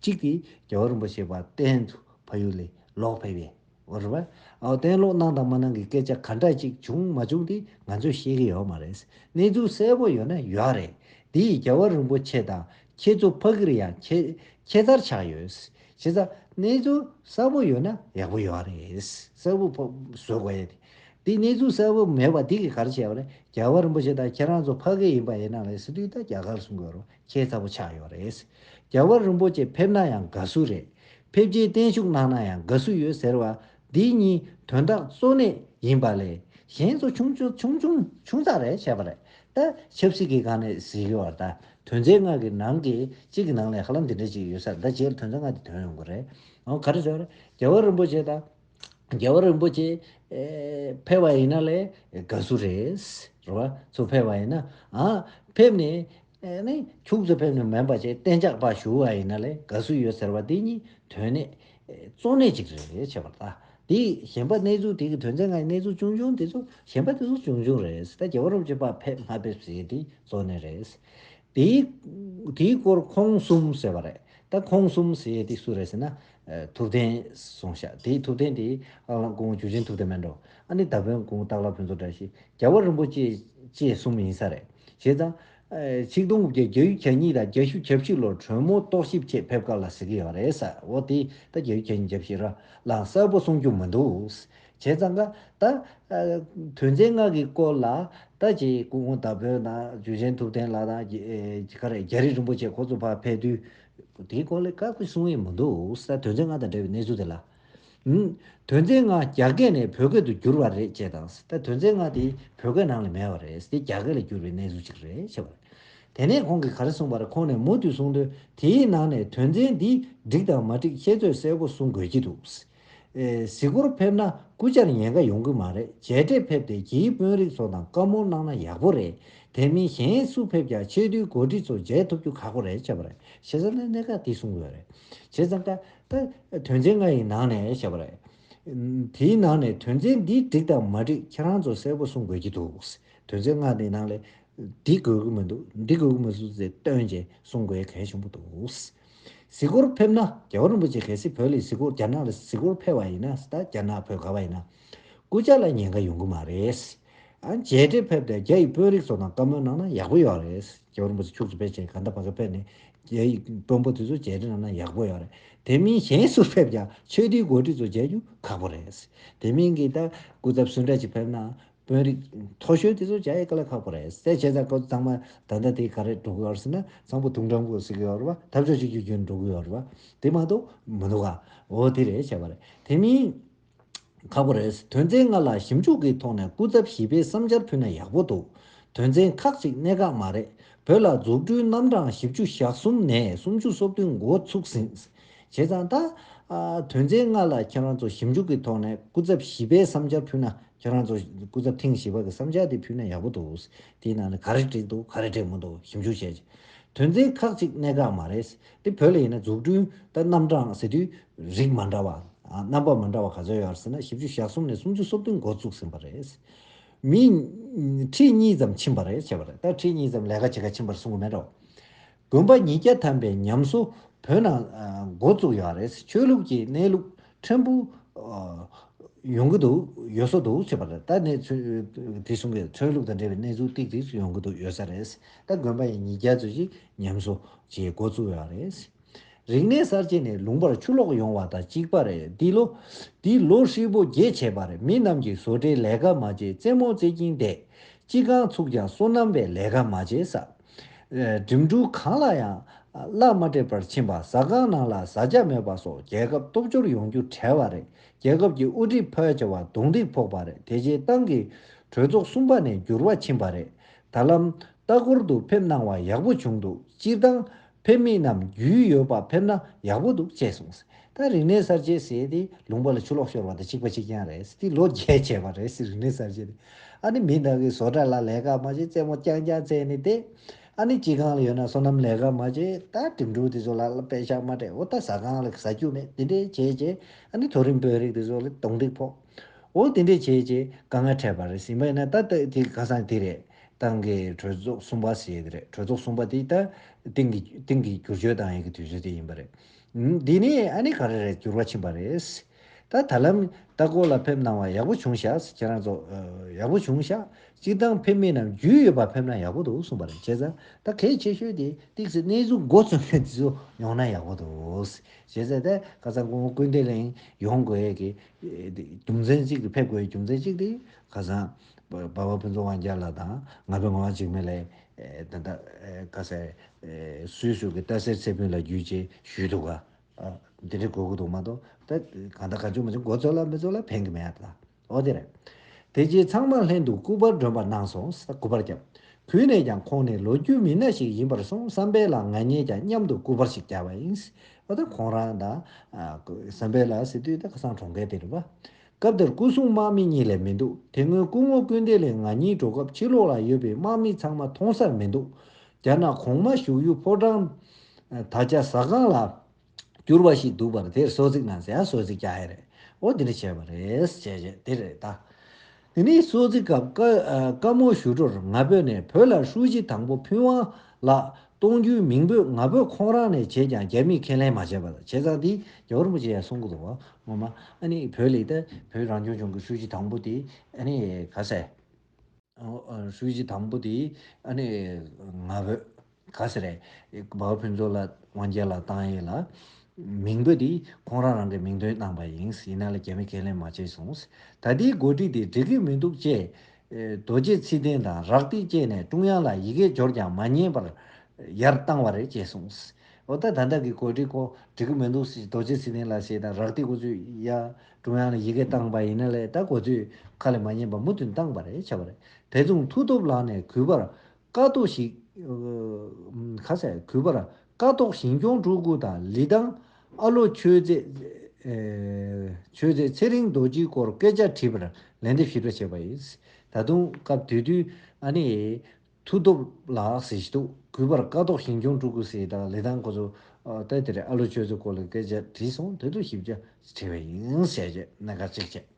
གཅིག་དེ་རྒྱལ་བ་རིན་པོ་ཆེ་པ་དན་དུ་ཕ་ཡུལ་ལས་ལོག་ཕེབས་པའི་བར་བར་ཨའོ་གཏན་སློག་གནང་དང་མ་གནང་གི་སྐད་ཆ་ག་འདྲ་ཅིག་བྱུང་མ་བྱུང་དེ་ང་ཚོས་ཤེས་ཀྱི་ཡོད་མ་རེད་གནས་ཚུལ་གསལ་པོ་ཡོད་ན་ཡོད་རེད་དེ་ཡིས་རྒྱལ་བ་རིན་པོ་ཆེ་དང་ཁྱེད་ཚོ་ཕ་གིར་ཡང་ཁྱེད་ཁྱེད་ལྟར་ཆགས་ཡོད། བྱས་ཙང་གནས་ཚུལ་གསལ་པོ་ཡོད་ན་ཡག་པོ་ཡོད་རེད། གསལ་པོ་ཕོ་བཟོས་དགོས་ཡས་དེ། དེ་གནས་ཚུལ་གསལ་པོ་མེད་པ་དེ་གི་ག་རེ་བྱས་པ་རེད་རྒྱལ་བ་རིན་པོ་ཆེ་དང་ཁྱེད་རང་ཚོ་ཕ་གི་ཡིན་པ་ཡིན་ན་ལས་སི་ཏུས་ད་རྒྱ་གར་སུ་འགོས་རོགས་ཁྱེད་ཚ་པོ་ཆགས་ཡོད་རེད། རྒྱལ་བ་རིན་པོ་ཆེ་ཕེབས་ན་ཡང་དགའ་སུ་རེད། ཕེབས་རྗེས་བརྟན་བཞུགས་གནང་ན་ཡང་དགའ་སུ་ཡོད་ཟེར་བ་འདི་གཉིས་དོན་དག་གཙོ་གནད་ཡིན་པ་ལས་གཞན་ཚོ་ཆུང་ཆུང་ཆུང་ཆུང་ཆུང་ཚག་རེད་བྱས་པ་རེད་ད། ཆབ་སྲིད་ཀྱི་སྒང་ནས་གཟིགས་ཡོད་བར་ད་དོན་རྩལ་སྔགས་ཀྱི་ནང་གི་གཅིག་གི་ནང་ལས་ཧ་ལམ་དེ་འདྲ་ཅིག་ཡོད་ས་ད་བྱས་ལ་དོན་རྩལ་སྔགས་དེ་དོན་ཡོང་དགོས་རེད། འོ་ག་རེ་བྱས་པ་རེད་རྒྱལ་བ་རིན་པོ་ཆེ་དང། རྒྱལ་བ་རིན་པོ་ཆེ། ཕེབས་པ་ཡིན་ན་ལས་དགའ་བསུ་རེད། རེད་བ། ཚོ་ཕེབས་པ་ཡིན་ན། ཕེབས་ནས། ཨེ་ནས་ཁྱུགས་སུ་ཕེབས་ནས་མོན་པ་ཆེ་བསྟན་ཇག་པ་ཞུ་བ་ཡིན་ན་ལས་དགའ་བསུ་ཡོད་ཟེར་བ་དེ་གཉིས་དོན་གནད། གཙོ་གནད་ཅིག་རེད་བྱས་པར་ལྟ། དེས་གཞན་པ་གནས་ཚུལ་དེ་གི་དོན་ཚན་ལྔའི་གནས་ཚུལ་ཅུང་ཆུང་དེ་ཚོ་གཞན་པ་དེ་ཚོ་ཅུང་ཆུང་རེད་ད་རྒྱལ་བ་རོབ་ཀྱི་པ་ཕེབས་མ་ཕེབས་ཟེར་དེ་གཙོ་གནད་རེད། དེའི་དེའི་སྐོར་ཁོང་གསུམ་ཟེར་བ་རེད་ད་ཁོང་གསུམ་ཟེར་དེ་སུ་རེད་ཟེར་ན་ཐུབ་བསྟན་སོང་ཤག་དེའི་ཐུབ་བསྟན་དེ་ཨག་ལག་ཀོང་བོ་ཇུ་ཆེན་ཐུབ་བསྟན་མན་འགྲོ་ཨ་ནི་ད་བོན་ཀོང་སྟག་ལ་བོན་ཚོ་བཀྲ་ཤིས་རྒྱལ་བ་རིན་པོ་ཆེ་བཅས་གསུམ་ཡིན་ས་རེད་བྱས་ཙང། ཆིག་སྟོང་དགུ་བརྒྱ་བརྒྱད་ཡུ་གྱ་གཉིས་དང་བརྒྱ་ཤུ་གྱ་བཞི་ལོར་དྲོན་མོ་རྟོག་ཞིབ་ཆེད་ཕེབས་སྐབས་ལ་ཟེར་གི་ཡོད་རེད་ས་འོ་དེ་ད་བརྒྱ་ཡུ་གྱ་གཉིས་གྱ་བཞི་ར་ལང་གསལ་པོ་གསུང་རྒྱུ་མི་འདུག་བྱས་ཙང་ཀ་ད། དོན་ཚན་ལྔ་གི་སྐོར་ལ་ད་ཅེ་ཀོང་བོ་ད་བོན་དང་ཇུ་ཆེན་ཐུབ་བསྟན་ལགས་དང་རྒྱ་རི་རིན་པོ་ཆེ་ཁོ་ཚོ་ཕ་ཕེབས་དུས། དེའི་སྐོར་ལས་བཀག་པའི་གསུང་ཡིག་མི་འདུག་ས་དོན་ཚན་ལྔ་དང་འབྲེལ་བའི་གནས་ཚུལ་དེ་ལ། དོན་ཚན་ལྔ་རྒྱ་སྐད་ནས་བོད་སྐད་དུ་བསྒྱུར་བ་རེད་ཅེས་དང་ས་དོན་ཚན་ལྔ་དེ་བོད་སྐད་ནང་ལ་མེད་པ་རེད་དེ་རྒྱ་སྐད་ལ་བསྒྱུར་བའི་གནས་ཚུལ་ཅིག་རེད་ཞེས་པ་རེད། དེ་ནས་ཁོང་གིས་ག་རེ་གསུངས་པ་རེད་ཁོང་ནས་མུ་མཐུད་གསུང་དོན་དེའི་ནང་ནས་དོན་ཚན་འདི་འགྲིག་དང་མ་འགྲིག་ཤེས་ཚོད་གསལ་པོ་གསུང་དགོས་ཀྱི་འདུག་ཟེར། གཟིགས་སྐོར་ཕེབས་ན་སྐུ་བཅར་ཉེན་ཁ་ཡོང་གི་མ་རེད་མཇལ་འཕྲད་ཕེབས་ཏེ་གྱིས་དཔོན་རིགས་ཚོ་དང་བཀའ་མོལ་གནང་ན་ཡག་པོ་རེད་དེ་མིན་གཞན་སུ་ཕེབས་ཀྱང་ཆེས་མཐོའི་གོ་སྒྲིག་ཚོ་མཇལ་ཐུབ་རྒྱུ་ཁག་པོ་རེད་བྱས་པ་རེད་བྱས་ཙང་ནི་གནད་འགག་དེ་གསུངས་ཡོད་རེད་བྱས་ཙང་ཀ་ད་དོན་ཚན་ལྔ་ཡི་ནང་ནས་བྱས་པ་རེད་དེའི་ནང་ནས་དོན་ཚན་འདི་འགྲིག་དང་མ་འགྲིག་ཁྱེད་རང་ཚོ་གསལ་པོ་གསུངས་དགོས་ཀྱི་འདུག་དོན་ཚན་ལྔ་དེའི་ནང་ལས་འདི་དགོས་ཀྱི་མི་འདུག་འདི་དགོས་ཀྱི་མི་འདུག་ཟེར་སྟོན་བྱས་གསུངས་དགོས་གལ་ཆེན་པོ་འདུག། གཟིགས་སྐོར་ཕེབས་ན་རྒྱལ་བ་རིན་པོ་ཆེ་གལ་སྲིད་བོད་ལ་གཟིགས་སྐོར་རྒྱ་ནག་ལ་གཟིགས་སྐོར་ཕེབས་བ་ཡིན་ན་ད་རྒྱ་ནག་བོད་དགའ་བ་ཡིན་ན། སྐུ་ཕྱྭ་ལ་ཉེན་ཁ་ཡོང་གི་མ་རེད། ཨ་མཇལ་འཕྲད་ཕེབས་ཏེ་རྒྱ་ཡི་དཔོན་རིགས་ཚོ་དང་བཀའ་མོལ་གནང་ན་ཡག་པོ་ཡོད་རེད། རྒྱལ་བ་རིན་པོ་ཆེ་ཕྱུགས་ཚོ་ཕལ་ཆེར་ག་འདའ་བ་ག་ཕེབས་ནས་རྒྱ་ཡི་དཔོན་པོ་དེ་ཚོ་མཇལ་འཕྲད་གནང་ན་ཡག་པོ་ཡོད་རེད། དེ་མིན་གཞན་སུ་ཕེབས་ཀྱང་ཆོས་སྡེའི་འགོ་ཁྲིད་ཚོ་མཇལ་རྒྱུ་ཁག་པོ་རེད། དེ་མིན་གྱི་ད་སྐུ་ཚབ་སུ་འདྲ་ཞིག་ཕེབས་ན་དཔོན་རིགས། མཐོ་གཞོན་དེ་ཚོ་བྱ་ཡི་ཀ་ལ་ཁག་པོ་རེད། གསལ་བྱེད་ཚ་ཁོ་ཚང་མ་ད་ལྟ་དེ་ག་རེ་འགྲོ་གི་ཡོད་ཟེར་ན་ཚང་པོ་དུང་སྒྲོམ་གུ་ཟེར་གི་ཡོད་རེད་བ། འཐབ་ཕྱོགས་གཅིག་གྱུར་རྒྱུ་འགྲོ་གི་ཡོད་རེད་བ། དེ་མ་གཏོགས་མི་འདུག་ག། འོ་དེ་རེད་བྱས་པ་རེད། དེ་མིན། ཁག་པོ་རེད། དོན་ཚན་ལྔ་ལ་ཞིབ་འཇུག་གི་ཐོག་ནས་སྐུ་ཚབ་བཞི་པའི་བསམ་འཆར་ཕུལ་ན་ཡག་པོ་འདུག་དོན་ཚན་ཁག་ཅིག་གནད་འགག་མ་རེད། བོད་ལ་འཛུགས་སྐྲུན་རྣམ་གྲངས་བཞི་བཅུ་ཞག་གསུམ་ནས་སུམ་ཅུ་སོ་བདུན་འགོ་ཚུགས་ཟིན། བྱས་ཙང་ད། དོན་ཚན་ལྔ་ལ་ཁྱེད་རང་ཚོ་ཞིབ་འཇུག་གི་ཐོག་ནས་སྐུ་ཚབ་བཞི་པའི་བསམ་འཆར་ཕུལ་ན་ཁྱེད་རང་ཚོ་སྐུ་ཚབ་ཐེངས་བཞི་པ་གི་བསམ་འཆར་དེ་ཕུལ་ན་ཡག་པོ་འདུག་དེའི་ནང་ནས་ག་རེ་འགྲིག་འདུག་ག་རེ་འགྲིག་མི་འདུག་ཞིབ་འཇུག་བྱས་རྗེས། དོན་ཚན་ཁག་ཅིག་གནད་འགག་མ་རེད། དེ་བོད་ལ་ཡིན་ན་འཛུགས་སྐྲུན་དང་རྣམ་གྲངས་ཟེར་དུས་རིགས་མ་འདྲ་བ། རྣམ་པ་མི་འདྲ་བ་ག་ཚོད་ཡོད་ཟེར་ན་ཞིབ་འཇུག་ཞག་གསུམ་ནས་སུམ་ཅུ་སོ་བདུན་འགོ་བཙུགས་ཟིན་པ་རེད། མི། ཁྲི་གཉིས་ཙམ་ཕྱིན་པ་རེད་བྱས་པ་རེད་ད་ཁྲི་གཉིས་ཙམ་ལས་ཀ་བྱེད་ཁ་ཕྱིན་པར་གསུང་གི་མེད་དོ། དགོན་པ་ཉིས་བརྒྱ་ཐམ་པའི་ཉམས་གསོ་བོད་ནང་འགོ་བཙུགས་ཡོད་རེད་ཆོས་ལུགས་ཀྱི་གནས་ལུགས་ཕྲན་བུ་ཡོང་གི་འདུག་ཡོད་ས་འདུག་ཅེས་པ་རེད་ད་ནས་དེ་གསུམ་གྱི་ཆོས་ལུགས་དང་འབྲེལ་བའི་གནས་ཚུལ་ཏིག་ཏིག་ཡོང་གི་འདུག་ཡོད་ས་རེད་ད་དགོན་པ་ཉིས་བརྒྱ་ཚོས་ཀྱི་ཉམས་གསོ་བྱེད་འགོ་བཙུགས་ཡོད་རེད། རིག་གནས་གསར་བརྗེ་ནི་ལུང་པར་ཆུ་ལོག་ཡོང་བ་དང་གཅིག་པ་རེད་འདི་ལོ། འདི་ལོ་ཧྲིལ་པོ་རྒྱས་བྱས་པ་རེད་མི་རྣམས་ཀྱིས་བཟོ་གྲྭའི་ལས་ཀ་མ་བྱེད་རྩེད་མོ་རྩེ་གྱིན་བསྡད། ཅི་གང་ཚུགས་ཀྱང་སོ་ནམ་པའི་ལས་ཀ་མ་བྱེད་ས། འགྲིམ་འགྲུལ་གང་ལ་ཡང་གླ་མ་སྤྲད་པར་ཕྱིན་པ་ཟ་ཁང་ནང་ལ་བཟའ་བཅའ་མེད་པ་སོགས་རྒྱལ་ཁབ་སྟོབས་འབྱོར་ཡོང་རྒྱུ་བྲལ་བ་རེད་རྒྱལ་ཁབ་ཀྱི་དབུ་ཁྲིད་ཕལ་ཆེ་བ་རྡུང་རྡེག་ཕོག་པ་རེད་དེ་རྗེས་ཏང་གི་གྲོས་ཚོགས་གསུམ་པ་ནས་འགྱུར་བ་ཕྱིན་པ་རེད་ད་ལམ་ལྟ་སྐོར་དུ་ཕེབས་གནང་བ་ཡག་པོ་བྱུང་འདུག་སྤྱིར་བཏང་ཕེབས་མི་རྣམས་རྒྱུས་ཡོད་པ་ཕེབས་ན་ཡག་པོ་འདུག་ཅེས་གསུངས། ད་རིག་གནས་གསར་བརྗེ་ཟེར་ཏེ་ལུང་པ་ལ་ཆུ་ལོག་ཤོར་བ་དང་གཅིག་པ་གཅིག་རྐྱང་རེད་དེ་ལོ་བརྒྱད་བྱས་པ་རེད་རིག་གནས་གསར་བརྗེ་དེ། ཨ་ནི་མི་དག་གིས་བཟོ་གྲྭ་ལ་ལས་ཀ་མ་བྱེད་རྩེད་མོ་རྐྱང་རྐྱང་རྩེད་ནི་དེ། ཨ་ནི་སྐྱིད་ཁང་ལ་ཡོད་ན་སོ་ནམ་ལས་ཀ་མ་བྱེད་ད་གྲིམ་འགྲུལ་དེ་ཚོ་ལ་དཔེ་ཆ་མ་སྤྲད་འོ་ད་ཟ་ཁང་ལ་ཟ་རྒྱུ་མེད་དེ་འདྲས་བྱས་རྗེས་ཨ་ནི་མཐོ་རིམ་དཔོན་རིགས་དེ་ཚོ་ལ་གདོང་འདེགས་ཕོག་འོ་དེ་འདྲས་བྱས་རྗེས་དཀའ་ངལ་འཕྲད་པ་རེད་སྲིད་མ་ཡིན་ན་ད་ལྟ་དེ་ག་སང་དེ་རེད། ཏང་གི་གྲོས་ཚོགས་གསུམ་པ་ཞེས་རེད་གྲོས་ཚོགས་གསུམ་པ་དེ་ལྟར་ཏིང་གི་ཏིང་གི་བསྒྱུར་བཅོས་དང་ཡི་གི་དུས་ཚོད་དེ་ཡིན་པ་རེད། འདི་ནི་ཨ་ནི་ག་རེ་རེད་འགྱུར་བ་ཕྱིན་པ་རེད། ད་ད་ལམ་ལྟ་སྐོར་ལ་ཕེབས་གནང་བ་ཡག་པོ་བྱུང་ཤག་ཁྱེད་རང་ཚོ་ཡག་པོ་བྱུང་ཤག་སྤྱིར་བཏང་ཕེབས་མི་རྣམས་རྒྱུས་ཡོད་པ་ཕེབས་ན་ཡག་པོ་འདུག་གསུངས་པ་རེད་བྱས་ཙང་ད་གལ་ཆེ་ཤོས་དེ་ཏིག་སི་གནས་ཚུལ་མགོ་བཙུགས་མཁན་དེ་ཚོ་ཡོང་ན་ཡག་པོ་འདུག་བྱས་ཙང་ད་ཁ་སང་ཁོང་སྐུལ་འདེད་གླིང་ཡོང་དགོས་ཀྱི་རྒྱུ་མཚན་གཅིག་གི་ཕེབས་དགོས་ཀྱི་རྒྱུ་མཚན་གཅིག་དེ་ཁ་སང། དཔའ་བོ་ཕུན་ཚོགས་དབང་རྒྱལ་ལགས་དང་ང་ཕོད་ངག་དབང་འཇིགས་མེད་ལས། ད་ལྟ་བཀའ་སྩལ། སུའི་གཟུགས་ཀྱི་རྟ་སེར་ཚེ་ཕུན་ལ་བརྒྱུད་ཅེས་ཞུས་འདུག་ག། འདི་འདྲའི་གོ་གི་འདུག་མ་གཏོགས་ད་གང་ལྟར་གང་བྱུང་མ་བྱུང་མགོ་ཚོས་ལ་མི་ཚོས་ལ་ཕན་གི་མེད་ད། ཨོ་དེ་རེད། དེ་རྗེས་ཚང་མ་ལྷན་དུ་སྐུ་པར་སྒྲོན་པ་གནང་སོང་ས་སྐུ་པར་བརྒྱབ། གུས་ནས་ཀྱང་ཁོང་ནི་ལོ་རྒྱུས་མི་སྣ་ཞིག་ཡིན་པར་སོང་བསམ་པས་ལ་ང་གཉིས་ཀྱང་མཉམ་དུ་སྐུ་པར་ཞིག་བརྒྱབ་པ་ཡིན། ཨོ་ད་ཁོང་རང་ད། བསམ་པས་ལ་སི་ཏུས་ད་ཁ་སང་གྲོང་ཁེ་དེ་རུ་བ། སྐབས་དེར་སྐུ་སྲུང་དམག་མི་གཉིས་ལས་མི་འདུག་དེ་སྔོན་སྐུ་ངོ་སྐུ་འདས་ལས་ང་གཉིས་འགྲོ་སྐབས་ཕྱི་ལོགས་ལ་ཡོད་པའི་དམག་མི་ཚང་མ་མཐོང་སར་མི་འདུག་རྒྱ་ནག་གོང་མ་བཞུགས་ཡུལ་ཕོ་བྲང། ད་ཆ་ཟ་ཁང་ལ། གྱུར་པ་ཞིག་འདུག་པར་དེར་སོ་ཙིག་ནང་ཟེ་ཧ་སོ་ཙིག་ཀྱ་ཧེ་རེད་འོ་འདི་འདྲ་བྱས་པ་རེད་ཅེས་བཤད་དེ་རེད་ད། དེ་ནས་སོ་ཙིག་སྐབས་དཀར་མོ་ཞུ་སྒྲོར་ང་བོས་ནས་བོད་ལ་ཧྲུའུ་ཅི་དང་པོ་ཕུན་དབང་ལགས་གཏོང་རྒྱུའི་མིང་འབོད་ང་ཕོད་ཁོང་རང་ནས་བྱས་ཀྱང་རྒྱ་མིས་ཁས་ལེན་མ་བྱས་པ་དང་བྱས་ཙང་དེ་རྒྱ་བོད་རིན་པོ་ཆེ་ཡང་གསུང་གི་འདུག་ངོ་མ་ཨ་ནི་བོད་ལིག་དེ་བོད་རང་སྐྱོང་ལྗོངས་ཀྱི་ཧྲུའུ་ཅི་དང་པོ་དེ་ཨ་ནི་ག་ཟེ། ཧྲུའུ་ཅི་དང་པོ་དེ་ཨ་ནི་ང་ཕོད་ག་ཟེ་རེད་བའོ་ཕུན་ཚོགས་ལ་དབང་རྒྱལ་ལ་ཏང་ཡེ་ལ་མིང་འབོད་དེ་ཁོང་རང་རང་གི་མིང་དོན་གནང་པ་ཡིན་ཡིན་ན་ལ་རྒྱ་མིས་ཁས་ལེན་མ་བྱས་སོང་ད་ལྟའི་འགོ་ཁྲིད་དེ་འགྲིག་གི་མི་འདུག་ཅེས་རྡོ་རྗེ་ཚིག་ལྡན་དང་རག་ཏིག་བཅས་ནས་ཀྲུང་དབྱང་ལ་ཡི་གེ་སྦྱོར་ཀྱང་མ་ཉན་པར་ཡར་བཏང་བ་རེད་ཅེས་གསུངས། འོ་ད་ད་ལྟ་གི་གོ་སྒྲིག་ཁོ་འགྲིག་གི་མི་འདུག་ཟེར་རྡོ་རྗེ་ཚིག་ལྡན་ལ་ཞེས་དང་རག་ཏིག་ཁོ་ཚོས་ཡ་ཀྲུང་དབྱང་ལ་ཡི་གེ་བཏང་པ་ཡིན་ན་ལས་ད་གོ་ཚོས་ཁ་ལས་མ་ཉན་པར་མུ་མཐུན་བཏང་བ་རེད་བྱ་བ་རེད་བེ་རྫོང་མཐུ་སྟོབས་ལགས་ནས་གུས་པར་ཀ་ཏོག་ཞིག། ཁ་ཟས་གུས་པར། ཀ་ཏོག་ཞིང་སྐྱོང་སྤྲུལ་སྐུ་དང་ལི་ཐང། ཨ་ལོ་ཆོས་མཛད། ཆོས་མཛད་ཚེ་རིང་རྡོ་རྗེའི་སྐོར་སྐད་ཆ་དྲིས་པར་ལན་འདེབས་ཞིབ་ཕྲ་བྱས་པ་ཡིན། ད་དུང་སྐབས་དུས་དུས། ཨ་ནེ། མཐུ་སྟོབས་ལགས་ཟེར་གྱི་འདུག་གུས་པར་ཀ་ཏོག་ཞིང་སྐྱོང་སྤྲུལ་སྐུ་ཟེར་དང་ལི་ཐང་སྐོར་ཚོ། ལྟ་དེར་ཨ་ལོ་ཆོས་མཛད་སྐོར་ལ་སྐད་ཆ་དྲིས་སོང་ད་དུང་ཞིབ་ཕྲ་དྲིས་པ་ཡིན། ཞེས་བརྗོད་ན་དགའ་ཚིག་ཆེ།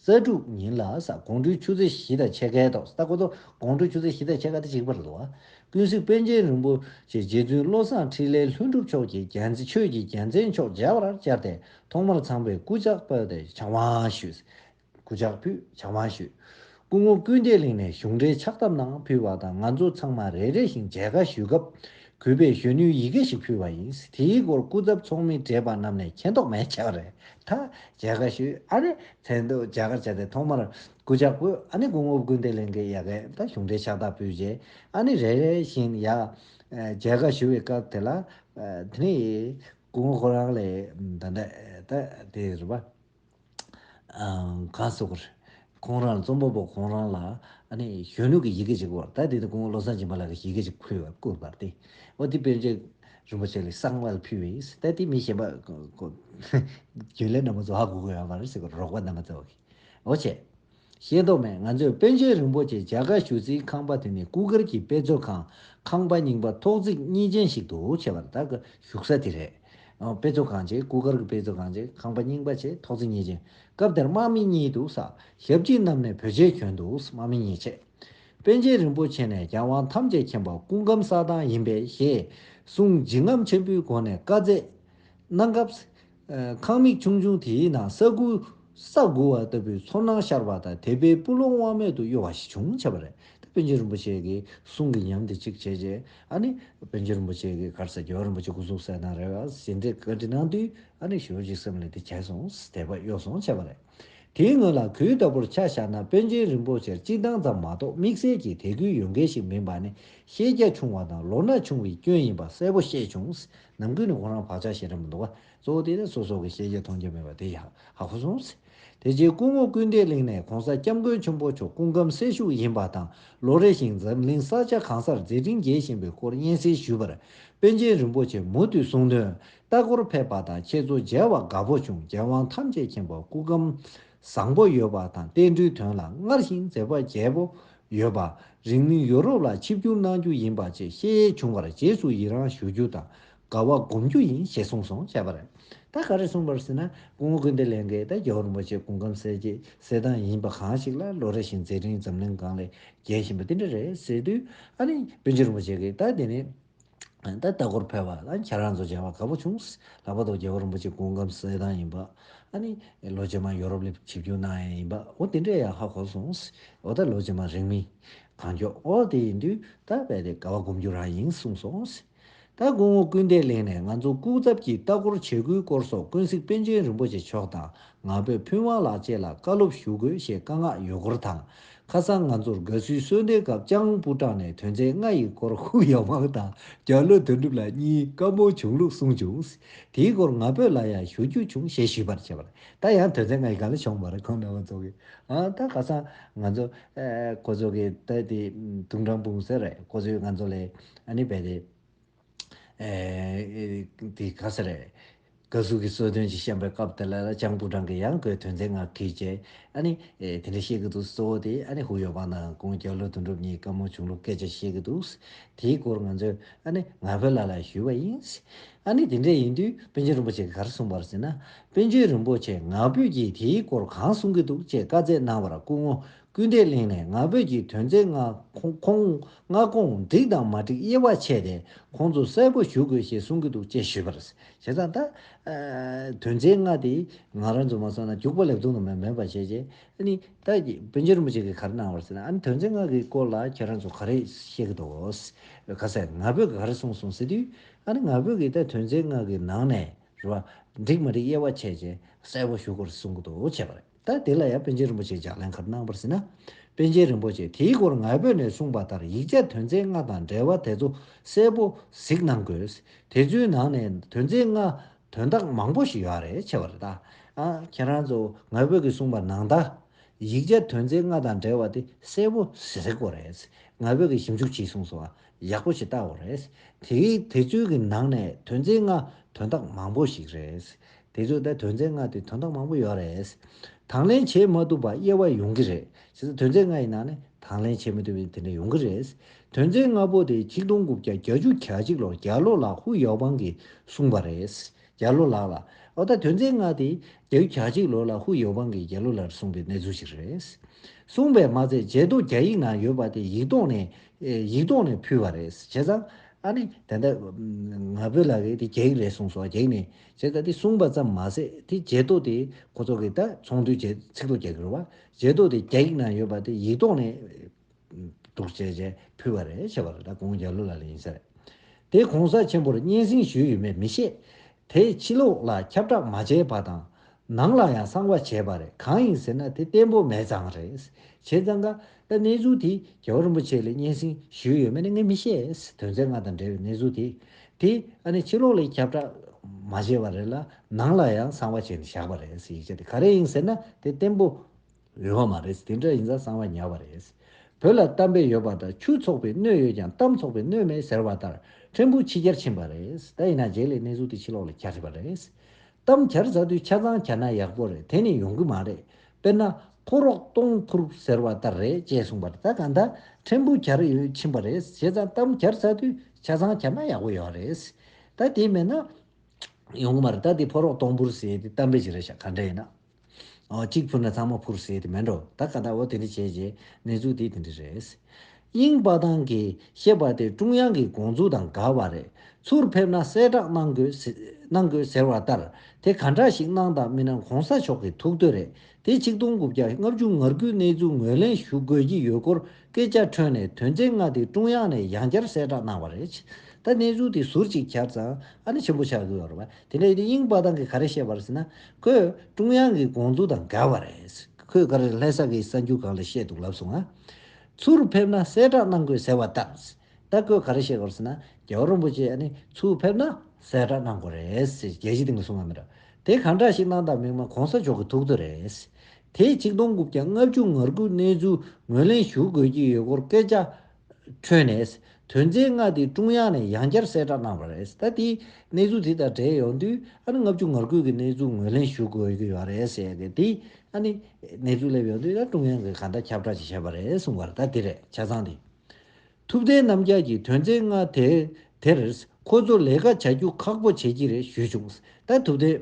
རྩ་དྲུག་ཉིན་ལ་ས་དགོང་དྲུག་ཆུ་ཚོད་བཞི་དང་ཕྱེད་ཀའི་ཐོག་སྟག་གོ་ཐོག་དགོང་དྲུག་ཆུ་ཚོད་བཞི་དང་ཕྱེད་ཀ་སྟེ་གཅིག་པར་འདུ་བ། ཀུན་གཟིགས་པཎ་ཆེན་རིན་པོ་ཆེ་རྗེ་བཙུན་བློ་བཟང་འཕྲིན་ལས་ལྷུན་གྲུབ་མཆོག་གིས་རྒྱལ་མཚན་ཆོས་ཀྱི་རྒྱལ་མཚན་མཆོག་མཇལ་བར་བཅར་ཏེ་ཐོག་མར་ཚངས་པའི་སྐུ་ཕྱག་ཕུལ་ཏེ་ཕྱག་དབང་ཞུས། སྐུ་ཕྱག་ཕུལ་ཕྱག་དབང་ཞུས། སྐུ་ངོ་ཀུན་བདེ་གླིང་ནས་གཞུང་འབྲེལ་ཕྱག་བཏབ་གནང་ཕུལ་བ་དང་ང་ཚོ་ཚང་མ་རེ་རེ་བཞིན་མཇལ་ཁ་ཞུས་སྐབས། གུས་པས་གཞོན་ནུའི་ཡི་གེ་ཞིག་ཕུལ་བ་ཡིན། དེའི་སྐོར་སྐུ་ཚབ་ཚོགས་མི་བགྲེས་པ་རྣམས་ནས་མཁྱེན་རྟོགས་མེད་ཆགས་རེད་ད། རྒྱལ་ཁ་ཞུས་ཨ་ནི་མཚན་ཐོ་རྒྱ་གར་བྱས་ཏེ་ཐོག་མར་སྐུ་ཇག་པོས་ཨ་ནི་སྐུ་ངོ་བསྐུར་འདེད་ལེན་གི་ཡ་གན་དང་གཞུང་འབྲེལ་ཕྱག་རྟགས་ཕུལ་རྗེས་ཨ་ནི་རེ་རེ་བཞིན་ཡ། རྒྱལ་ཁ་ཞུ་བའི་སྐབས་དེ་ལ། དེ་ནི། སྐུ་ངོ་ཁོ་རང་ལས། ད། དེ་རུ་བ། ག་སོགས་པར། ཁོང་རང་རྩོམ་པ་པོ་ཁོང་རང་ལ་གཞོན་ནུ་གྱི་ཡི་གེ་ཅིག་བོར་ད་དེ་དུས་ཁོང་བློ་བཟང་སྦྱིན་པ་ལགས་ཀྱི་ཡི་གེ་ཅིག་ཕུལ་བར་བསྐུར་བར་ཏེ། ཨོ་དེ་དཔལ་ཆེན་རིན་པོ་ཆེ་ལས་གསང་བར་ཕུལ་བས་ད་དེ་མི་གཞན་པ། རྒྱུན་ལས་རྣམས་ཀྱི་བཟོ་ཧ་གོ་དགོས་ཡོང་བར་ཟེར་བར་རོགས་པ་རྣམ་པ་ཚོ། ཨོ་བྱས། ཤེས་མདོག་མེད་ང་ཚོས་པཎ་ཆེན་རིན་པོ་ཆེ་རྒྱ་གར་བཞུགས་ཚེའི་ཁང་པ་དེ་ནི་སྐུ་སྒེར་གྱི་དཔེ་མཛོད་ཁང་ཁང་པ་རྙིང་པ་ཐོག་བརྩེགས་གཉིས་ཅན་ཞིག་ཏུ་བྱས་པར་ད་གི་བཞུགས་ས་དེ་རེད། དཔེ་མཛོད་ཁང་ཆེ་སྐུ་སྒེར་གྱི་དཔེ་མཛོད་ཁང་ཆེ་ཁང་པ་རྙིང་པ་ཆེ་ཐོག་བརྩེགས་གཉིས་ཅན། སྐབས་དེར་དམག་མི་གཉིས་འདུག་ས་ཞབས་སྐྱིད་རྣམས་ནས་བོད་ཆས་གྱོན་འདུག་དམག་མི་གཉིས་ཆེ། པན་ཆེན་རིན་པོ་ཆེ་ནས་རྒྱལ་དབང་ཐམས་ཅད་མཁྱེན་པ་སྐུ་སྒམ་ས་དང་ཡིན་པས་ཞེས་གསུངས་འཇིགས་རྔམ་ཆེན་པོའི་སྒོ་ནས་བཀའ་བསྩལ། གནང་སྐབས། ཁང་མིག་ཆུང་ཆུང་དེའི་ནང་ས་ཁུ། ས་འགུལ་བ་ལྟ་བུའི་ཚོར་སྣང་ཤར་བ་དང་དད་པའི་སྤུ་ལོང་དབང་མེད་དུ་གཡོ་བ་ཞིག་བྱུང་བྱས་པ་རེད། དེ་བན་ཆེན་རིན་པོ་ཆེ་གིས་གསུང་གི་ཉམས་དེ་གཅིག་བྱས་རྗེས་ཨ་ནི། བན་ཆེན་རིན་པོ་ཆེ་གིས་གར་ས་རྒྱལ་བ་རིན་པོ་ཆེ་སྐུ་གཟུགས་གསལ་སྣང་རེད་བ་ཟེར་འདི་བཀའ་འདྲི་གནང་དུས་ཨ་ནི་ཞོལ་གྱི་སེམས་ལ་འདི་བྱས་སོང་དད་པ་གཡོ་སོང་བྱས་པ་རེད། དེའི་ངོས་ལ་གུས་ལྟ་བུར་ཆ་བཞག་ན་དཔོན་ཆེན་རིན་པོ་ཆེར་སྤྱི་བཏང་ཙམ་མ་གཏོགས་དམིགས་བསལ་གྱི་དད་གུས་ཡོད་མཁན་ཞིག་མིན་པ་ནི་ཤེས་རྒྱ་ཆུང་བ་དང་ལོ་ན་ཆུང་བའི་སྐྱོན་ཡིན་པ་གསལ་པོ་ཤེས་བྱུང། ནམ་གུས་ནི་ཁོ་རང་བག་ཆགས་ཤིག་རེད་མི་འདུག་ག་གཙོ་བོ་དེ་ནི་སོ་སོ་གི་ཤེས་རྒྱ་མཐོང་རྒྱུ་མེད་པ་དེ་ཡག་ཧ་གོ་སོང། དེ་རྗེས་སྐུ་ངོ་ཀུན་བདེ་གླིང་ནས་གོང་ས་སྐྱབས་མགོན་ཆེན་པོ་མཆོག་སྐུ་ཁམས་སེལ་ཤུགས་ཡིན་པ་དང་ལོ་རེ་བཞིན་འཛམ་གླིང་ས་ཆ་གང་སར་མཛད་འཕྲིན་རྒྱས་བཞིན་པའི་སྐོར་སྙན་སེང་ཞུས་པར་དཔོན་ཆེན་རིན་པོ་ཆེས་མུ་མཐུད་གསུང་དོན། ལྟ་སྐོར་ཕེབས་པ་དང་ཁྱེད་ཚོ་མཇལ་བ་དགའ་པོ་བྱུང་རྒྱལ་དབང་ཐམས་ཅད་མཁྱེན་པ་སྐུ་ཁམས་བཟང་པོ་ཡོད་པ་དང་བསྟན་འགྲོའི་དོན་ལ་སྔར་བཞིན་མཛད་པ་རྒྱས་པོ་ཡོད་པ་རིང་མིན་ཡོ་རོབ་ལ་ཆིབས་བསྒྱུར་གནང་རྒྱུ་ཡིན་པ་བཅས་བཤད་ཡས་བྱུང་བར་རྗེས་སུ་ཡི་རང་ཞུ་རྒྱུ་དང་དགའ་བ་སྒོམ་རྒྱུ་ཡིན་ཞེས་གསུངས་སོང་བྱས་པ་རེད། ད་ག་རེ་གསུངས་པར་ཟེར་ན་སྐུ་ངོ་ཀུན་བདེ་ལས་འགས་ད་རྒྱལ་བ་རིན་པོ་ཆེ་སྐུ་ཁམས་གསལ་གྱི་གསལ་གདངས་ཡིན་པ་གང་ཞིག་ལ་ལོ་རེ་བཞིན་མཛད་འཕྲིན་འཛམ་གླིང་སྒང་ལས་རྒྱས་བཞིན་པ་དེ་འདྲ་རེད་ཟེར་དུས་ཨ་ནི་བིན་ཆེན་རིན་པོ་ཆེ་གིས་ད་དེ་ནི་ད་ལྟ་སྐོར་ཕེབས་པ་ལ་ཁྱེད་རང་ཚོ་མཇལ་བ་དགའ་པོ་བྱུང། ལྷག་པར་དུ་རྒྱལ་བ་རིན་པོ་ཆེ་སྐུ་ཁམས་གསལ་ཐང་ཡིན་པ། ཨ་ནི། ལོ་རྗེས་མར་ཡོ་རོབ་ལི་ཆིབས་བསྒྱུར་གནང་ཡས་ཡིན་པ། འོ་དེ་འདྲས་ཡག་ཧ་གོ་སོང། འོ་ད་ལོ་རྗེས་མར་རིང་མིན། གང་མགྱོགས་འོ་དེ་ཡིན་དུས་ད་རྦད་དེ་དགའ་བ་སྒོམ་རྒྱུ་རང་ཡིན་གསུངས་སོང། ད་སྐུ་ངོ་སྐུལ་འདེད་གླིང་ནས་ང་ཚོ་སྐུ་ཚབ་ཀྱིས་ལྟ་སྐོར་བྱེད་དགོས་སྐོར་སོགས་ཀུན་གཟིགས་པཎ་ཆེན་རིན་པོ་ཆེ་མཆོག་དང་ང་ཕོད་ཕུན་དབང་ལགས་བཅས་ལ་བཀའ་སློབ་ཞུ་དགོས་ཞེས་བཀའ་མངགས་ཡོད་སྐོར་དང། ཁ་སང་ང་ཚོར་དགའ་བསུའི་གསོལ་འདེབས་སྐབས་ལྕགས་ལུང་པུ་ཀྲང་ནས་དོན་ཚན་ལྔ་ཡི་སྐོར་ཧུའུ་ཡའོ་ཝང་དང་རྒྱ་ལོ་དོན་གྲུབ་ལགས་གཉིས་བཀའ་འབོད་བྱུང་ལུགས་གསུངས་བྱུང། དེའི་སྐོར་ང་ཕོད་ལ་ཡང་ཞུ་རྒྱུ་བྱུང་ཞེས་ཞུས་པར་བྱས་པ། ད་ཡང་དོན་ཚན་ལྔ་ཡི་ག་ལ་བྱུང་བ་རེད་ཁོང་རྣམ་པ་ཚོ་གིས་ད་ཁ་སང་ང་ཚོ་ཁོ་ཚོ་གིས་ད་དེ་དུང་ཀྲང་པུང་ཟེར་རེད་ཁོ་ཚོས་ང་ཚོ་ལས་ཨ་ནི་བལ་ཏེ། དེ་ག་ས་རེད། བཀའ་ཟུར་གྱི་གསོལ་སྟོན་ཅིག་བཤམས་པའི་སྐབས་དེ་ལ་ལྕང་སྐུ་བྲང་གི་ཡང་སྒོས་དོན་ཚན་ལྔ་ཁེལ་ཅེས་ཨ་ནི། དེ་འདྲ་བཤད་ཀྱི་འདུག་གཙོ་བོ་དེ་ཨ་ནི་ཧུའུ་ཡོ་པང་དང་ཀོང་རྒྱ་ལོ་དོན་གྲུབ་གཉིས་བཀའ་མོལ་བྱུང་ལུགས་སྐད་ཆ་བཤད་ཀྱི་འདུག་དེའི་སྐོར་ང་ཚོས་ཨ་ནི་ང་ཕོད་ལ་ལ་ཞུས་པ་ཡིན། ཨ་ནི་དེ་འདྲ་ཡིན་དུས་པཎ་ཆེན་རིན་པོ་ཆེ་གིས་ག་རེ་གསུངས་པར་ཟེར་ན། པན་ཆོན་རིན་པོ་ཆེས་ང་ཕོད་ཀྱིས་དེའི་སྐོར་གང་གསུང་གི་འདུག་ཅེས་བཀའ་བསྩལ་གནང་བར་སྐུ་ངོ་སྐུལ་འདེད་གླེང་ནས་ང་ཕོད་ཀྱི་དོན་ཚན་ལྔ་ཁོངས་ལྔ་ཁོངས་འགྲིག་དང་མ་འགྲིག་དབྱེ་བ་ཕྱེས་ཏེ་ཁོང་ཚོ་གསལ་པོ་ཞུ་དགོས་ཞེས་གསུང་གི་འདུག་ཅེས་ཞུས་པར། བྱས་ཙང་ད། དོན་ཚན་ལྔ་དེ་ང་རང་ཚོ་མ་སོང་ན་རྒྱུགས་པ་ལེབ་རྡུང་དང་མེད་པ་བྱས་རྗེས་ཨཱནི། ད། བོན་ཆེན་རིན་པོ་ཆེ་གིས་ག་རེ་གནང་བར་ཟེར་ན་ཨཱནི་དོན་ཚན་ལྔ་གི་སྐོར་ལ་ཁྱེད་རང་ཚོ་ག་རེ་བཤད་ཀྱི་འདུག་ག་ཟེར་ང་ཕོད་ཀྱིས་ག་རེ་གསུངས་སོང་ཟེར་དུས། ཨཱནི་ང་ཕོད་ཀྱིས་ད་དོན་ཚན་ལྔ་གི་ནང་ནས་རེད་བ། འགྲིག་མ་འགྲིག་དབྱེ་བ་ཕྱེས་རྗེས་གསལ་པོ་ཞུ་དགོས་རེད་གསུང་གི་འདུག་བྱས་པ་རེད། ད་དེ་ལ་ཡང་པཎ་ཆེན་རིན་པོ་ཆེས་ལྗགས་ལན་ཁར་གནང་བར་ཟིན་ན། པཎ་ཆེན་རིན་པོ་ཆེས་དེའི་སྐོར་ངལ་བོད་ནས་གསུངས་པ་ལྟར་ཡིག་ཆ་དོན་ཚན་ལྔ་དང་འབྲེལ་བ་དེ་ཚོ་གསལ་པོ་གཟིགས་གནང་དགོས། དེ་ཚོའི་ནང་ནས་དོན་ཚན་ལྔ་དོན་དག་མང་པོ་ཞིག་ཡོད་རེད་ཆེ་བ་རེད་ད། ཁྱེད་རང་ཚོ་ངལ་བོད་ཀྱི་གསུངས་པ་ནང་ད། ཡིག་ཆ་དོན་ཚན་ལྔ་དང་འབྲེལ་བ་དེ་གསལ་པོ་གཟིགས་དགོས་རེད། ངལ་བོད་ཀྱི་ཞིབ་འཇུག་བྱས་གསུངས་སོང་བ་ཡག་པོ་ཞིག་བལྟ་འོ་རེད། དེ་དེ་ཚོའི་གི་ནང་ནས་དོན་ཚན་ལྔ་དོན་དག་མང་པོ་ཞིག་རེད། དེ་ཚོའི་ལྟར་དོན་ཚན་ལྔ་དེ་དོན་དག་མང་པོ་ཡོད་རེད། དང་ལེན་བྱེད་མ་ཐུབ་པ་དབྱེ་བ་ཡོང་གི་རེད། བྱས་ཙང་དོན་ཚན་ལྔ་ཡི་ནང་ནས་དང་ལེན་བྱེད་མི་ཐུབ་པའི་དེ་འདྲ་ཡོང་གི་རེད། དོན་ཚན་ལྔ་པོ་དེ་ཆིག་སྟོང་དགུ་བརྒྱ་གྱ་བཅུ་གྱ་གཅིག་ལོར་རྒྱ་ལོ་ལགས་ཧུའུ་ཡའོ་པང་གིས་གསུངས་པ་རེད། རྒྱ་ལོ་ལགས་ལ། འོ་ད་དོན་ཚན་ལྔ་དེ་གྱ་བཅུ་གྱ་གཅིག་ལོ་ལ་ཧུའུ་ཡའོ་པང་གིས་རྒྱ་ལོ་ལགས་གསུངས་པའི་གནས་ཚུལ་ཞིག་རེད། གསུངས་པའི་མ་ཚད་ཇེ་སྟོང་རྒྱ་ཡིག་ནང་ཡོད་པ་དེ་ཡིག་ཐོག་ནས། ཡིག་ཐོག་ནས་ཕུལ་བ་རེད། བྱས་ཙང། ཨ་ནི། དེ་འདྲ། ང་ཕོད་ལ་དེ་རྒྱ་ཡིག་རེད་གསུངས་སོ་རྒྱ་ཡིག་ནས། ཅེས་བཀའ་འདི་གསུངས་པ་ཙམ་མ་ཟད་དེ་རྗེས་ཐོག་དེ་ཁོ་ཚོ་གིས་ད་ཚོང་དུས་བཅད་ཚིག་ཐོ་རྒྱག་གི་རུང་བ་རྗེས་ཐོག་དེ་རྒྱ་ཡིག་ནང་ཡོད་པ་དེ་ཡིག་ཐོག་ནས་བསྡུར་བྱས་བྱས་ཕུལ་བ་རེད་བྱས་པ་རེད་ད་དགོངས་རྒྱ་ལོ་ལ་ལ་ཡིན་ས་རེད་དེ་གོང་ས་ཆེན་པོར་སྙན་སེང་ཞུས་ཡོད་མེད་མི་ཤེས་དེ་ཕྱི་ལོགས་ལ་ཁྱབ་བསྒྲགས་མ་བྱས་པ་དང་ནང་ལ་ཡང་གསང་བ་བྱས་པ་རེད་གང་ཡིན་ཟེར་ན་དེ་བརྟན་པོ་མེད་ཙང་རེད། བྱས་ཙང་ཀ་ད་གནས་ཚུལ་དེ་རྒྱལ་བ་རིན་པོ་ཆེ་ལས་སྙན་སེང་ཞུས་ཡོད་མེད་ནི་ངས་མི་ཤེས། དོན་ཚན་ལྔ་དང་འབྲེལ་བའི་གནས་ཚུལ་དེ་དེ་ཨ་ནི་ཕྱི་ལོགས་ལས་ཁྱབ་བསྒྲགས་མ་བྱས་པ་རེད་ལ་ནང་ལ་ཡང་གསང་བ་བྱས་ནས་བཞག་པ་རེད་ཡིག་ཆ་དེ་ག་རེ་ཡིན་ཟེར་ན་དེ་བརྟན་པོ་ཡོད་པ་མ་རེད་དེ་འདྲ་ཡིན་ཙང་གསང་བ་ཉར་བ་རེད། བོད་ལ་གཏམ་དཔེ་ཡོད་པ་ལྟར་ཆུ་འཚོགས་པའི་སྣོད་ཡོད་ཀྱང་གཏམ་འཚོགས་པའི་སྣོད་མེད་ཟེར་བ་ལྟར་ཕྲན་བུ་ཕྱི་རྒྱར་ཕྱིན་པ་རེད་ད་ཡིན་ན་རྗེས་ལས་གནས་ཚུལ་དེ་ཕྱི་ལོགས་ལས་ཁྱབ་བྱས་པ་རེད། གཏམ་བྱར་བཟའ་དུས་ཆ་ཚང་བྱས་ན་ཡག་པོ་རེད་དེ་ནི་ཡོང་གི་མ་རེད་དཔེར་ན་ཕོ་རོག་སྟོང་འཕུར་ཟེར་བ་ལྟར་རེད་ཅེས་གསུངས་པར་ད་གང་ལྟར་ཕྲན་བུ་བྱར་ཡོད་ཕྱིན་པ་རེད་བྱས་ཙང་གཏམ་བྱར་བཟའ་དུས་ཆ་ཚང་བྱས་ན་ཡག་པོ་ཡོད་རེད་ད་དེ་མེད་ན་ཡོང་གི་མ་རེད་ད་དེ་ཕོ་རོག་སྟོང་འཕུར་ཟེར་ཏེ་གཏམ་དཔེ་ཞིག་རེད་ཤག་ག་འདྲ་ཡིན་ན། གཅིག་ཕུལ་ན་ཚང་མ་ཕུར་ཟེར་དེ་མིན་འགྲོ་ད་ག་ད་འོ་དེ་འདྲི་བྱས་རྗེས་གནས་ཚུལ་དེ་དེ་འདྲི་རེད། དབྱིངས་དཔའ་ཐང་གིས་བཤད་པ་དེ་ཀྲུང་དབྱང་གི་དགོངས་ཚུལ་དང་འགལ་བ་རེད་ཚུར་ཕེབས་ན་གསལ་བསྒྲགས་གནང་དགོས་ཟེར་བ་ལྟར་དེ་ག་འདྲ་ཞིག་གནང་དང་མི་གནང་གོང་ས་མཆོག་གི་ཐུགས་འདོད་རེད་དེ་ཆིག་སྟོང་དགུ་བརྒྱ་ལྔ་བཅུ་ང་དགུའི་གནས་ཚུལ་ངོས་ལེན་ཞུ་དགོས་ཀྱི་ཡོད་སྐོར་སྐད་ཆ་འཁྲོལ་ནས་དོན་ཚན་ལྔ་དེ་ཀྲུང་དབྱང་ནས་ཡང་བསྐྱར་གསལ་བསྒྲགས་གནང་བ་རེད། ད་གནས་ཚུལ་དེ་ཟུར་གཅིག་བྱར་ཙང་ཨ་ནི་ཆེན་པོ་ཆགས་དགོས་རེད། དེ་ནས་དབྱིན་དཔའ་ཐང་གིས་ག་རེ་བཤད་པར་ཟེར་ན། ཁོས་ཀྲུང་དབྱང་གི་དགོངས་ཚུལ་དང་འགལ་བ་རེད། ཁོས་ག་རེ་ལྷན་ས་ཀིའི་གསར་འགྱུར་སྒང་ལ་བཤད་འདུག་ལབ་སོང་ང། ཚུར་ཕེབས་ན་གསལ་བསྒྲགས་གནང་དགོས་ཟེར་བ་ལྟར། ད་ཁོས་ག་རེ་བཤད་གོ་ཟེར་ན། རྒྱལ་བ་རོན་པོ་ཆེས་ནི་ཚུར་ཕེབས་ན་གསལ་བསྒྲགས་གནང་དགོས་རེད་ཟེར་རྒྱལ་སྤྱིའི་སྟེང་ལ་གསུང་བ་མི་རབས་དེ་གང་འདྲ་ཞིག་གནང་དང་མིན་མ་གོང་ས་མཆོག་གི་ཐུགས་རྩོད་རེད། དེ་གཅིག་སྟོང་དགུ་བརྒྱ་ལྔ་བཅུ་ང་དགུའི་གནས་ཚུལ་ངོས་ལེན་ཞུ་དགོས་ཀྱི་ཡོད་སྐོར་སྐད་ཆ་ཁྲོད་ནས་དོན་ཚན་ལྔ་དེ་ཀྲུང་དབྱང་ནས་ཡང་བསྐྱར་གསལ་བསྒྲགས་གནང་བ་རེད། ད་ལྟའི་གནས་ཚུལ་དེ་དང་འབྲེལ་ཡོང་དུས་ཨ་ནི་ལྔ་བཅུ་ངར་ཁུག་གི་གནས་ཚུལ་ངོས་ལེན་ཞུ་དགོས་ཀྱི་ཡོད་རེད་ཟེར་ཡོད་དེ། ཨ་ནི་གནས་ཚུལ་སླེབས་ཡོང་དུས་ད་ཀྲུང་དབྱང་གིས་གང་འདྲ་ཁྱབ་བསྒྲགས་ཅིག་བྱས་པ་རེད་གསུངས་པར་ད་དེ་རེད་ཆ་ཚང་དེ། ཐུབ་བསྟན་རྣམ་རྒྱལ་གྱིས་དོན་ཚན་ལྔ་དེ་དེར་ཁོ་ཚོ་ལས་ཀ་བྱ་རྒྱུ་ཁག་པོ་བྱེད་ཀྱི་རེད་ཞུས་བྱུང། ད་ཐུབ་བསྟན།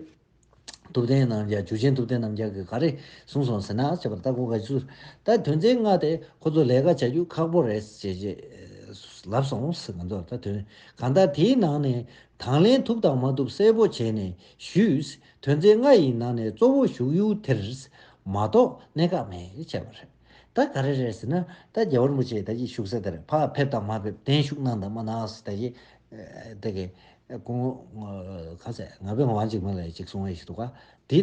ཐུབ་བསྟན་རྣམ་རྒྱལ་འཇུ་ཆེན་ཐུབ་བསྟན་རྣམ་རྒྱལ་གྱིས་ག་རེ་གསུངས་སོང་ཟེར་ན་བྱས་པར་བརྟག་གོ་ག་ཚོད་ད་དོན་ཚན་ལྔ་དེ་ཁོ་ཚོ་ལས་ཀ་བྱ་རྒྱུ་ཁག་པོ་རེད་ཟེར་རྗེས་ལབ་སོང་ང་ཚོར་ད་དོན་གང་ལྟར་དེའི་ནང་ནས་དང་ལེན་ཐུབ་དང་མ་ཐུབ་གསལ་པོ་བྱས་ནས་ཞུས་དོན་ཚན་ལྔ་ཡི་ནང་ནས་གཙོ་བོ་བཞུགས་ཡུལ་དེར་མ་གཏོགས་གནད་འགག་མེད་བྱས་པ་རེད་ད་ག་རེ་རེད་ཟེར་ན་ད་རྒྱལ་བ་རིན་པོ་ཆེ་ད་ཅིག་བཞུགས་ས་དེར་ཕ་ཕེབས་དང་མ་ཕེབས་གདན་ཞུགས་གནང་དང་མ་གནང་ཟེར་ད་ཅིག་བདག་གིས། ཀུན། ཁ་ཟས་ང་བོས་ཝང་ཅིག་མིན་ལས་ཅིག་བཟུང་བས་ཞིག་འདུག་ག། དེས་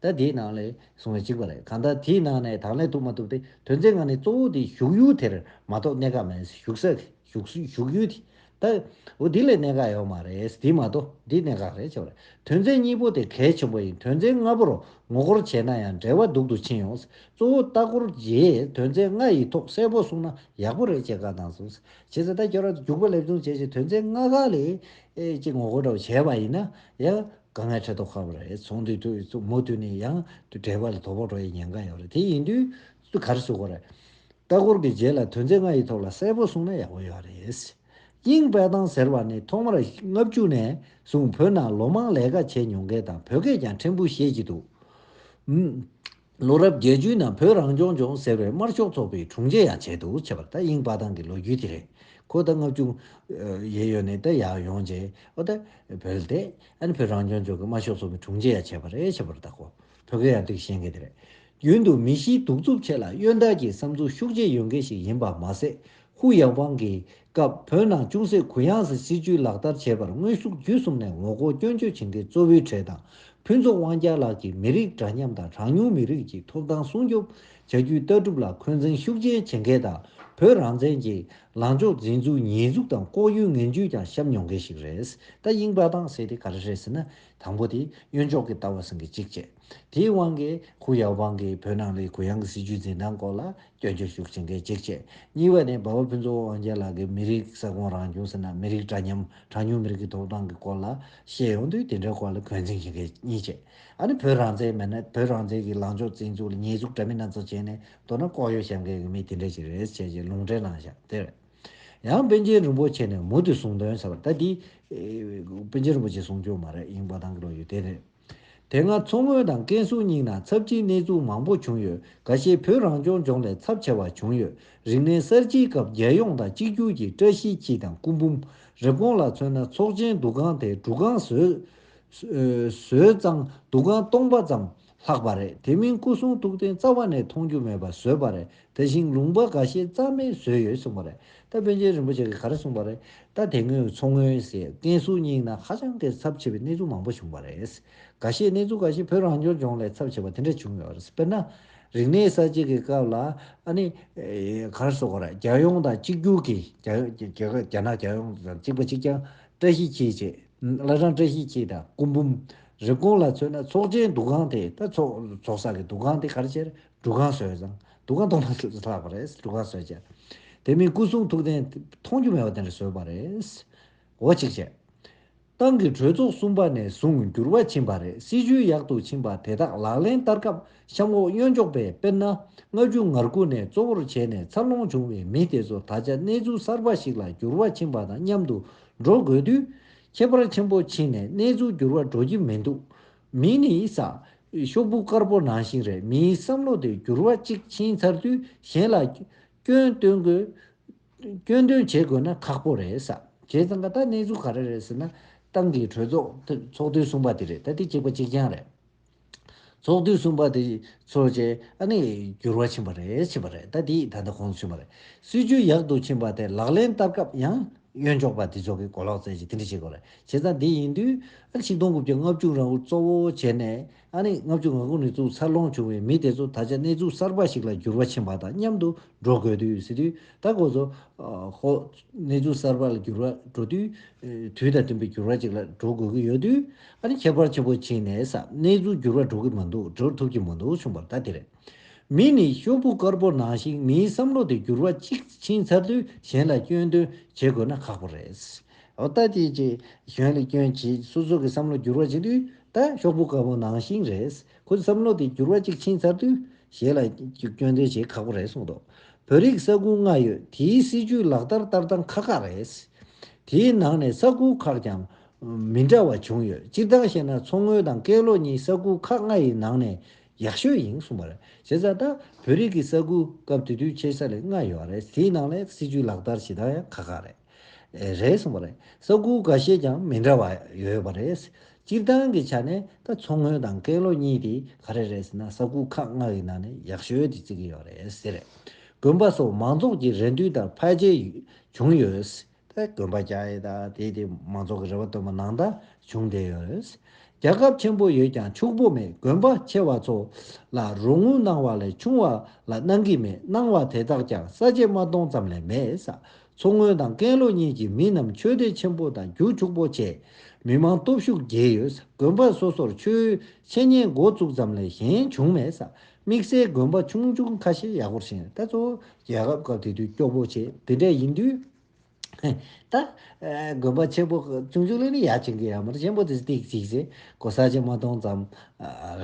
ད། ད་དེའི་ནང་ལས་བཟུང་བས་ཅིག་པ་རེད་གང་ལྟར་དེའི་ནང་ནས་དང་ལེན་ཐུབ་མ་ཐུབ་དེ་དོན་ཚན་ང་ནི་གཙོ་བོ་དེ་བཞུགས་ཡུལ་དེར་མ་གཏོགས་གནས་ཀ་མེད་བཞུགས་ས། བཞུགས་ཡུལ་དེ། ད། འོ་དེ་ལས་གནས་ཀ་ཡོད་མ་རེད་དེ་མ་གཏོགས་འདི་གནས་ཀ་རེད་ཅེས་པ་རེད་དོན་ཚན་གཉིས་པོ་དེ་གལ་ཆེན་པོ་ཡིན་དོན་ཚན་ལྔ་པོར་ངོ་སྐོར་བྱས་ན་ཡང་འབྲེལ་བ་སྡུག་ཏུ་ཕྱིན་ཡོང་གཙོ་བོ་ལྟ་སྐོར་རྗེས་དོན་ཚན་ལྔ་ཡི་ཐོག་གསལ་པོ་གསུང་ན་ཡག་པོ་རེད་ཅེས་བཀའ་གནང་སོང། བྱས་ཙང་ད་སྐྱོར་ར་རྒྱུག་པ་ལེབ་རྡུང་བྱས་ཅིང་དོན་ཚན་ལྔ་ག་ལས་ཅིག་ངོ་རྒོལ་འདྲ་བོ་བྱས་པ་ཡིན་ན་ཡང་དགའ་ངའི་ཁྲེལ་ཐོག་ཁ་བ་རེད་ཚོང་འདུས་དུས་ཚོད་མུ་མཐུད་ནས་ཡང་དུ་དྲེག་པ་ལ་དོ་ཕོག་འགྲོ་ཡི་ཉེན་ཀ་ཡོད་རེད་དེ་ཡིན་དུས་སུ་ག་རེ་བཟོ་དགོས་རེད། ལྟ་སྐོར་གྱི་རྗེས་ལ་དོན་ཚན་ལྔ་ཡི་ཐོག་ལ་གསལ་པོ་གསུང་ན་ཡག་པོ་ཡོད་རེད། དབྱིངས་དཔལ་ཐང་ཟེར་བ་ནི་ཐོག་མར་ལྔ་བཅུ་ནས་བཟུང་བོད་ནང་ལོ་མང་ལས་ཀ་བྱས་མྱོང་མཁན་དང་བོད་སྐད་ཀྱང་ཕྲན་བུ་ཤེས་ཀྱི་འདུག། ལོ་རབས་བརྒྱད་ཅུའི་ནང་བོད་རང་སྐྱོང་ལྗོངས་ཟེར་བའི་དམར་ཤོག་ཚོགས་པའི་དྲུང་ཆེ་ཡང་བྱས་འདུག་བྱས་པ་ད་དབྱིན་དཔའ་ཐང་གི་ལོ་རྒྱུས་དེ་རེད་ཁོ་ད་ལྔ་བཅུ། ཡས་ཡོད་ནས་ད་ཡག་ཡོང་རྗེས་ཨོ་ད། བོད་དེ། ཨ་ནི་བོད་རང་སྐྱོང་ལྗོངས་ཀྱི་དམར་ཤོག་ཚོགས་པའི་དྲུང་ཆེ་ཡང་བྱས་པ་རེད་བྱས་པར་ད་ཁོ་བོད་གི་ཡང་ཏིག་བཞེངས་མཁན་དེ་རེད། རྒྱུན་དུ་མི་གཞིའི་གདུག་རྩུབ་ཆེ་ལ་གཡོན་དག་གི་བསམ་ཚུལ་ཤུགས་ཆེ་ཡོད་མཁན་ཞིག་ཡིན་པ་མ་ཟད་ཧུའུ་ཡང་ཝང་གིས་སྐབས་བོད་ནང་ཅུང་ཟད་གུ་ཡངས་སུ་སྲིད་བྱུས་ལག་བསྟར་བྱས་པར་དངོས་ཤུགས་བརྒྱུད་གསུམ་ནས་ངོ་རྒོལ་སྐྱོན་བརྗོད་བྱེད་མཁན་གཙོ་བོའི་གྲས་དང་ཕུན་ཚོགས་དབང་རྒྱལ་ལགས་ཀྱིས་མི་རིགས་འདྲ་མཉམ་དང་གྲངས་ཉུང་མི་རིགས་ཀྱི་ཐོབ་ཐང་སྲུང་སྐྱོབ་བྱ་རྒྱུའི་ལྟ་གྲུབ་ལ་འཁོན་འཛིན་ཤུགས་ཆེན་བྱེད་མཁན་དང་བོད་རང་བཙན་གྱི་ལངས་ཕྱོགས་འཛིན་ཚུལ་ཉེས་འཛུགས་དང་ལྐོག་གཡོའི་ངན་བྱུས་ཀྱང་བཤམས་མྱོང་མཁན་ཞིག་རེད། ད་དབྱིངས་དཔའ་དྭངས་གསལ་དེ་ག་རེ་རེད་ཟེར་ན། དང་པོ་དེ་གཡོན་ཕྱོགས་ཀྱི་ལྟ་བ་ཟིན་གྱི་གཅིག་བཅས། དེའི་དབང་གིས་ཧུའུ་ཡའོ་པང་གིས་བོད་ནང་ལས་གུ་ཡངས་ཀྱི་སྲིད་བྱུས་འཛིན་སྟངས་སྐོར་ལ་སྐྱོན་བརྗོད་ཤུགས་ཆེན་གལ་ཆེར་བྱས། གཉིས་པ་ནི་འབའ་བ་ཕུན་ཚོགས་དབང་རྒྱལ་ལགས་ཀྱིས་མི་རིགས་ས་ཁོངས་རང་བྱུང་ཟེར་ན་མི་རིགས་འདྲ་མཉམ་གྲངས་ཉུང་མི་རིགས་ཀྱི་ཐོབ་ཐང་གི་སྐོར་ལ་བཤད་ཡོང་དུས་དེ་འདྲའི་སྐོར་ལ་གོས་འཛིན་ཞིག་གལ་གཉིས་བྱས། ཨ་ནི་བོད་རང་བཙན་མེད་ན་བོད་རང་བཙན་གྱི་ལངས་ཕྱོགས་བཙན་ཚུགས་ལ་ཉེས་འཛུགས་འདྲ་མིན་སྣ་ཚོགས་བྱས་ནས་མདོར་ན་ལྐོག་གཡོ་བྱེད་མཁན་གྱི་མི་དེ་འདྲ་ཞིག་རེད་ཟེར་བྱས་རྗེས་ལུང་འདྲེན་གནང་ཞག་དེར། ཡང་པཎ་ཆེན་རིན་པོ་ཆེ་ནས་མུ་མཐུད་གསུང་དོན་ཟེར་བ་ལྟ་དེ། པཎ་ཆེན་རིན་པོ་ཆེ་གསུང་རྒྱུ་མ་རེད་ཡིན་འབའ་ཐང་གི་ལོ་རྒྱུས་དེ་རེད། དེ་སྔ་མཚོ་སྔོན་དང་ཀན་སུའུ་གཉིས་ནང་ཚབས་ཀྱི་གནས་ཚུལ་མང་པོ་བྱུང་ཡོད་ག་ཤེད་བོད་རང་སྐྱོང་ལྗོངས་ལས་ཚབས་ཆེ་བ་བྱུང་ཡོད་རིག་གནས་གསར་བརྗེའི་སྐབས་རྒྱལ་ཡོངས་དང་གཅིག་གྱུར་གྱི་བཀྲ་ཤིས་འཁྱིལ་དང་སྐུ་འབུམ་རེབ་གོང་ལ་མཚོན་ན་ཚོགས་ཆེན་འདུ་ཁང་དེ་འབྲུ་ཁང་བཟོས་ཙང་འདུ་ཁང་སྟོང་པ་ཙམ་ལྷག་པ་རེད་དེ་མིན་སྐུ་གསུང་ཐུགས་རྟེན་རྩ་བ་ནས་མཐོང་རྒྱུ་མེད་པ་བཟོས་པ་རེད་དེ་བཞིན་ལུང་པ་འགའ་ཤས་རྩ་མེད་བཟོས་ཡོད་གསུངས་པ་རེད་ད་དཔོན་ཆེན་རིན་པོ་ཆེ་གིས་ག་རེ་གསུངས་པ་རེད་ད་དེ་སྔོན་མཚོ་སྔོན་སེ་ཀན་སུའུ་གཉིས་ན་ཧ་ཅང་གི་ཚབས་ཆེ་བའི་གནས་ཚུལ་མང་པོ་བྱུང་བ་རེད་འགའ་ཤས་གནས་ཚུལ་འགའ་ཤས་བོད་རང་སྐྱོང་ལྗོངས་ལས་ཚབས་ཆེ་བ་དེ་འདྲ་བྱུང་ཡོད་རེད་དཔེར་ན། རིག་གནས་གསར་བརྗེ་གི་སྐབས་ལ་ཨ་ནི། ག་རེ་སོགས་རེད་རྒྱལ་ཡོངས་དང་གཅིག་གྱུར་གྱི་རྒྱ་ནག་རྒྱལ་ཡོངས་དང་གཅིག་པ་གཅིག་རྐྱང་བཀྲ་ཤིས་འཁྱིལ་བཅས་བླ་བྲང་བཀྲ་ཤིས་འཁྱིལ་དང་སྐུ་འབུམ། རེབ་གོང་ལ་མཚོན་ན་ཚོགས་ཆེན་འདུ་ཁང་དེ་ད་ཚོགས་བསགས་ཀྱི་འདུ་ཁང་དེ་ག་རེ་བྱས་རེད་འབྲུ་གང་ཟོས་ཀྱང་འདུ་ཁང་སྟོང་ལྷག་ཆུ་ཚོད་ལྷག་པ་རེད་འབྲུ་གང་ཟོས་རྗེས། དེ་མིན་སྐུ་གསུང་ཐུགས་རྟེན་མཐོང་རྒྱུ་མེད་པ་དེ་འདྲ་ཟོས་པ་རེད། འོ་གཅིག་བྱས། ཏང་གི་གྲོས་ཚོགས་གསུམ་པ་ནས་བཟུང་འགྱུར་བ་ཕྱིན་པ་རེད་སྲིད་ཇུས་ཡག་ཏུ་ཕྱིན་པ་དེ་དག་ལག་ལེན་བསྟར་སྐབས་གཤམ་འོག་གཡོན་ཕྱོགས་པས་དཔེར་ན་སྔ་རྒྱུ་ངར་སྒུག་ནས་གཙོ་བོར་བྱས་ནས་འཚར་ལོངས་བྱུང་བའི་མི་དེ་ཚོ་ད་ཆ་གནས་ཚུལ་གསར་པ་ཞིག་ལ་འགྱུར་བ་ཕྱིན་པ་དང་མཉམ་དུ་འགྲོ་དགོས་དུས། ཁྱད་པར་ཆེན་པོ་ཕྱིན་ནས་གནས་ཚུལ་འགྱུར་བ་འགྲོ་གི་མི་འདུག་མི་ནི་ཡིད་བཟང། ཤོག་བུ་དཀར་པོ་ནང་བཞིན་རེད་མིའི་བསམ་བློ་དེ་འགྱུར་བ་གཅིག་ཕྱིན་ཚར་དུས་གཞན་ལ། སྐྱོན་སྟོན་དགོས། སྐྱོན་འདོན་བྱེད་དགོས་ན་ཁག་པོ་རེད། བྱས་ཙང་ད་གནས་ཚུལ་ག་རེ་རེད་ཟེར་ན། ཏང་གི་གྲོས་ཚོགས་ཚོགས་དུས་གསུམ་པ་དེ་རེད་ད་དེ་གཅིག་པ་གཅིག་རྐྱང་རེད། ཚོགས་དུས་གསུམ་པ་དེ་ཚོར་རྗེས་ཨ་ནི་འགྱུར་བ་ཕྱིན་པ་རེད་ཕྱིན་པ་རེད་ད་དེ་ད་ལྟ་གོང་དུ་ཕྱིན་པ་རེད། སྲིད་ཇུས་ཡག་ཏུ་ཕྱིན་པ་དེ་ལག་ལེན་བསྟར་སྐབས་ཡང་གཡོན་འཇོག་པ་དེ་ཚོ་གི་གོ་ལོག་རྩེ་གཅིག་དེ་འདྲ་བྱེད་དགོས་རེད་བྱས་ཙང་དེ་ཡིན་དུས་ཨ་རི་ཆིག་སྟོང་དགུ་བརྒྱ་ལྔ་བཅུ་རང་བོར་གཙོ་བོ་བྱས་ནས་ཨ་རི་ལྔ་བཅུ་ང་དགུ་ནས་བཙུགས་འཚར་ལོངས་བྱུང་བའི་མི་དེ་ཚོ་ད་ཆ་གནས་ཚུལ་གསར་པ་ཞིག་ལ་འགྱུར་བ་ཕྱིན་པ་དང་མཉམ་དུ་འགྲོ་དགོས་དུས་སྲིད་དུས་ད་གོ་ཚོ་ཧོ། གནས་ཚུལ་གསར་པ་ལ་འགྱུར་བ་འགྲོ་དུས་དུས་དང་བསྟུན་པའི་འགྱུར་བ་ཅིག་ལ་འགྲོ་དགོས་ཀྱི་ཡོད་དུས་ཨ་རི་ཁྱད་པར་ཆེན་པོ་ཕྱིན་ནས་ས་གནས་ཚུལ་འགྱུར་བ་འགྲོ་གི་མི་འདུག་འགྲོ་ཐུབ་ཀྱི་མི་འདུག་བྱུང་བ་ད་དེ་རེད། མི་ནི་གཤོམ་བུ་དཀར་པོ་ནང་བཞིན་མིའི་བསམ་བློ་དེ་འགྱུར་བ་གཅིག་ཕྱིན་ཚར་དུས་གཞན་ལ་སྐྱོན་འདོན་བྱེད་དགོས་ན་ཁག་པོ་རེད། ཨོ་ད་ཅི་ཅི། གཞན་ལ་སྐྱོན་བྱེད་སོ་སོ་གི་བསམ་བློ་འགྱུར་བ་ཕྱིན་དུས་ད་གཤོག་བུ་དཀར་པོ་ནང་བཞིན་རེད། ཁོའི་བསམ་བློ་དེ་འགྱུར་བ་གཅིག་ཕྱིན་ཚར་དུས་གཞན་ལ་སྐྱོན་འདོན་བྱེད་ཁག་པོ་རེད་གསུངས་འདུག་བོད་རིགས་ས་ཁུལ་ལྔ་ཡོད་དེའི་སྲིད་བྱུས་ལག་བསྟར་ལྟར་སྟངས་ཁག་ཁག་རེད། དེའི་ནང་ནས་ས་ཁུལ་ཁག་ཀྱང་མི་འདྲ་བ་བྱུང་ཡོད་སྤྱིར་བཏང་བཤད་ན་མཚོ་སྔོན་དང་ཀན་ལྷོ་གཉིས་ས་ཁུལ་ཁག་ལྔ་ཡི་ནང་ནས་ཡག་ཤོས་ཡིན་གསུངས་པ་རེད། བྱས་ཙང་ད་བོད་རིགས་ཀྱི་ས་ཁུལ་སྐབས་དེ་དུས་ཆེ་ས་ལས་ལྔ་ཡོད་རེད་དེའི་ནང་ལས་སྲིད་ཇུས་ལག་བསྟར་བྱེད་སྟངས་ཡང་ཁག་ཁག་རེད། རེད་གསུངས་པ་རེད། ས་ཁུལ་འགའ་ཤས་ཀྱང་མི་འདྲ་བ་ཡོད་པ་རེད། སྤྱིར་བཏང་གི་ཆ་ནས་ད་མཚོ་སྔོན་དང་ཀན་ལྷོ་གཉིས་དེ་ག་རེ་རེད་ཟེར་ན་ས་ཁུལ་ཁག་ལྔ་ཡི་ནང་ནས་ཡག་ཤོས་དེ་བརྩི་གི་ཡོད་རེད། དགོན་པ་སོགས་མང་ཚོགས་ཀྱི་རེ་འདུན་ལྟར་འཕར་རྒྱས་བྱུང་ཡོད། པའི་དགོན་པ་བརྒྱ་ཡོད། དེའི་དེ་མང་ཚོགས་ཀྱི་རེ་བ་བཏོན་པ་ནང་དག་བྱུང་བསྡད་ཡོད། རྒྱ་ཁབ་ཆེན་པོ་ཡོད་ཀྱང་ཕྱུག་པོ་མེད་དགོན་པ་ཆེ་བ་ཚོ་ལ་རོགས་དངུལ་གནང་བ་ལས་ཆུང་བ་ལ་གནང་གི་མེད་གནང་བ་དེ་དག་ཀྱང་ས་བཅད་མ་སྟོང་ཙམ་ལས་མེད་ས་མཚོ་སྔོན་དང་ཀན་ལྷོ་གཉིས་ཀྱི་མི་རྣམས་ཆོས་སྡེ་ཆེན་པོ་དང་རྒྱུག་ཕྱུག་པོ་བྱས། མི་མང་སྟོབས་ཤུགས་རྒྱས་ཡོད་ས་དགོན་པ་སོ་སོར་ཆོས་འཆད་ཉན་འགོ་བཙུགས་ཙམ་ལས་གཞན་བྱུང་མེད་ས་དམིགས་བསལ་དགོན་པ་ཆུང་ཆུང་ཁ་ཤས་ཡག་པོར་བཞེངས་ད་གཙོ་བོ་རྒྱལ་ཁབ་སྐབས་དེ་དུས་སྐྱོ་པོ་བྱས་དེ་འདྲ་ཡིན་དུས། ད། དགོན་པ་ཆེན་པོ་ཆུང་ཆུང་ལས་ནི་ཡག་བྱེད་ཀྱི་ཡ་མ་རེད་ཆེན་པོ་དེ་སྟེགས་གཅིག་བྱས་གོ་ས་ཆེན་མ་སྟོང་ཙམ་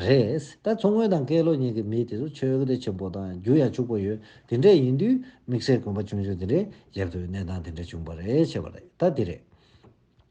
རེད་ད་མཚོ་སྔོན་དང་ཀེ་ལོ་གཉིས་ཀྱི་མི་དེ་ཚོ་ཆོས་གོ་ཐོས་ཆེན་པོ་དང་རྒྱུ་ཡ་ཕྱུག་པོ་ཡོད་དེ་འདྲ་ཡིན་དུས་དམིགས་བསལ་དགོན་པ་ཆུང་ཆུང་དེ་འདྲའི་རྒྱབ་ཏུ་གནས་སྟངས་དེ་འདྲ་བྱུང་པ་རེད་བྱས་པ་རེད་ད་དེ་རེད།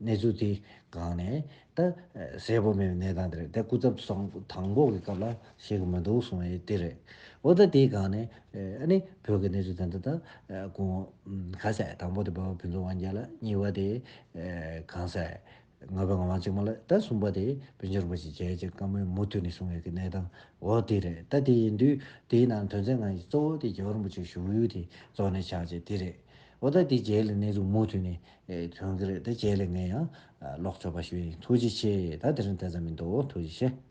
གནས་ཚུལ་དེ་གང་ནས་ད་གསལ་པོ་མེད་པའི་གནས་སྟངས་དེ་རེད་ད་སྐུ་ཚབ་སོང་དང་པོ་གི་སྐབས་ལ་ཤེས་ཀྱི་མི་འདུག་གསུངས་ཡོད་དེ་རེད། འོ་ད་དེ་གང་ནས་ཨ་ནི་བོད་ཀྱི་གནས་ཚུལ་དེ་འདྲ་ད་གོང་ག་ས་དང་པོ་དེ་འབའ་བ་ཕུན་ཚོགས་དབང་རྒྱལ་ལ་གཉིས་པ་དེ་གང་ས་ང་བའི་ང་དབང་གཅིག་མ་ལ་ད་གསུམ་པ་དེ་བོན་ཆེན་རིན་པོ་ཆེ་རྒྱལ་གཅེས་བཀའ་མོལ་མུ་མཐུད་ནས་གསུངས་ཡོད་ཀྱི་གནས་སྟངས་འོག་དེ་རེད་ད་དེ་ཡིན་དུས་དེའི་ནང་དོན་ཚན་གང་ཞིག་གཙོ་བོ་དེ་རྒྱལ་བ་རིན་པོ་ཆེ་བཞུགས་ཡུལ་དེ་རྫོགས་ནས་ཆགས་རྗེས་དེ་རེད། འོ་ད་དེ་རྒྱལ་ལ་གནས་ཚུལ་མུ་མཐུད་ནས་ཁྱོད་ཀྱི་རེད་དེ་ཁྱེད་ལས་ངན་ཡང་ལོག་ཆོག་པ་ཞུ་ཡིན་ཐུགས་རྗེ་ཆེ་ད་དེ་རིང་དེ་ཙམ་མི་འདུག་ཐུགས་རྗེ་ཆེ།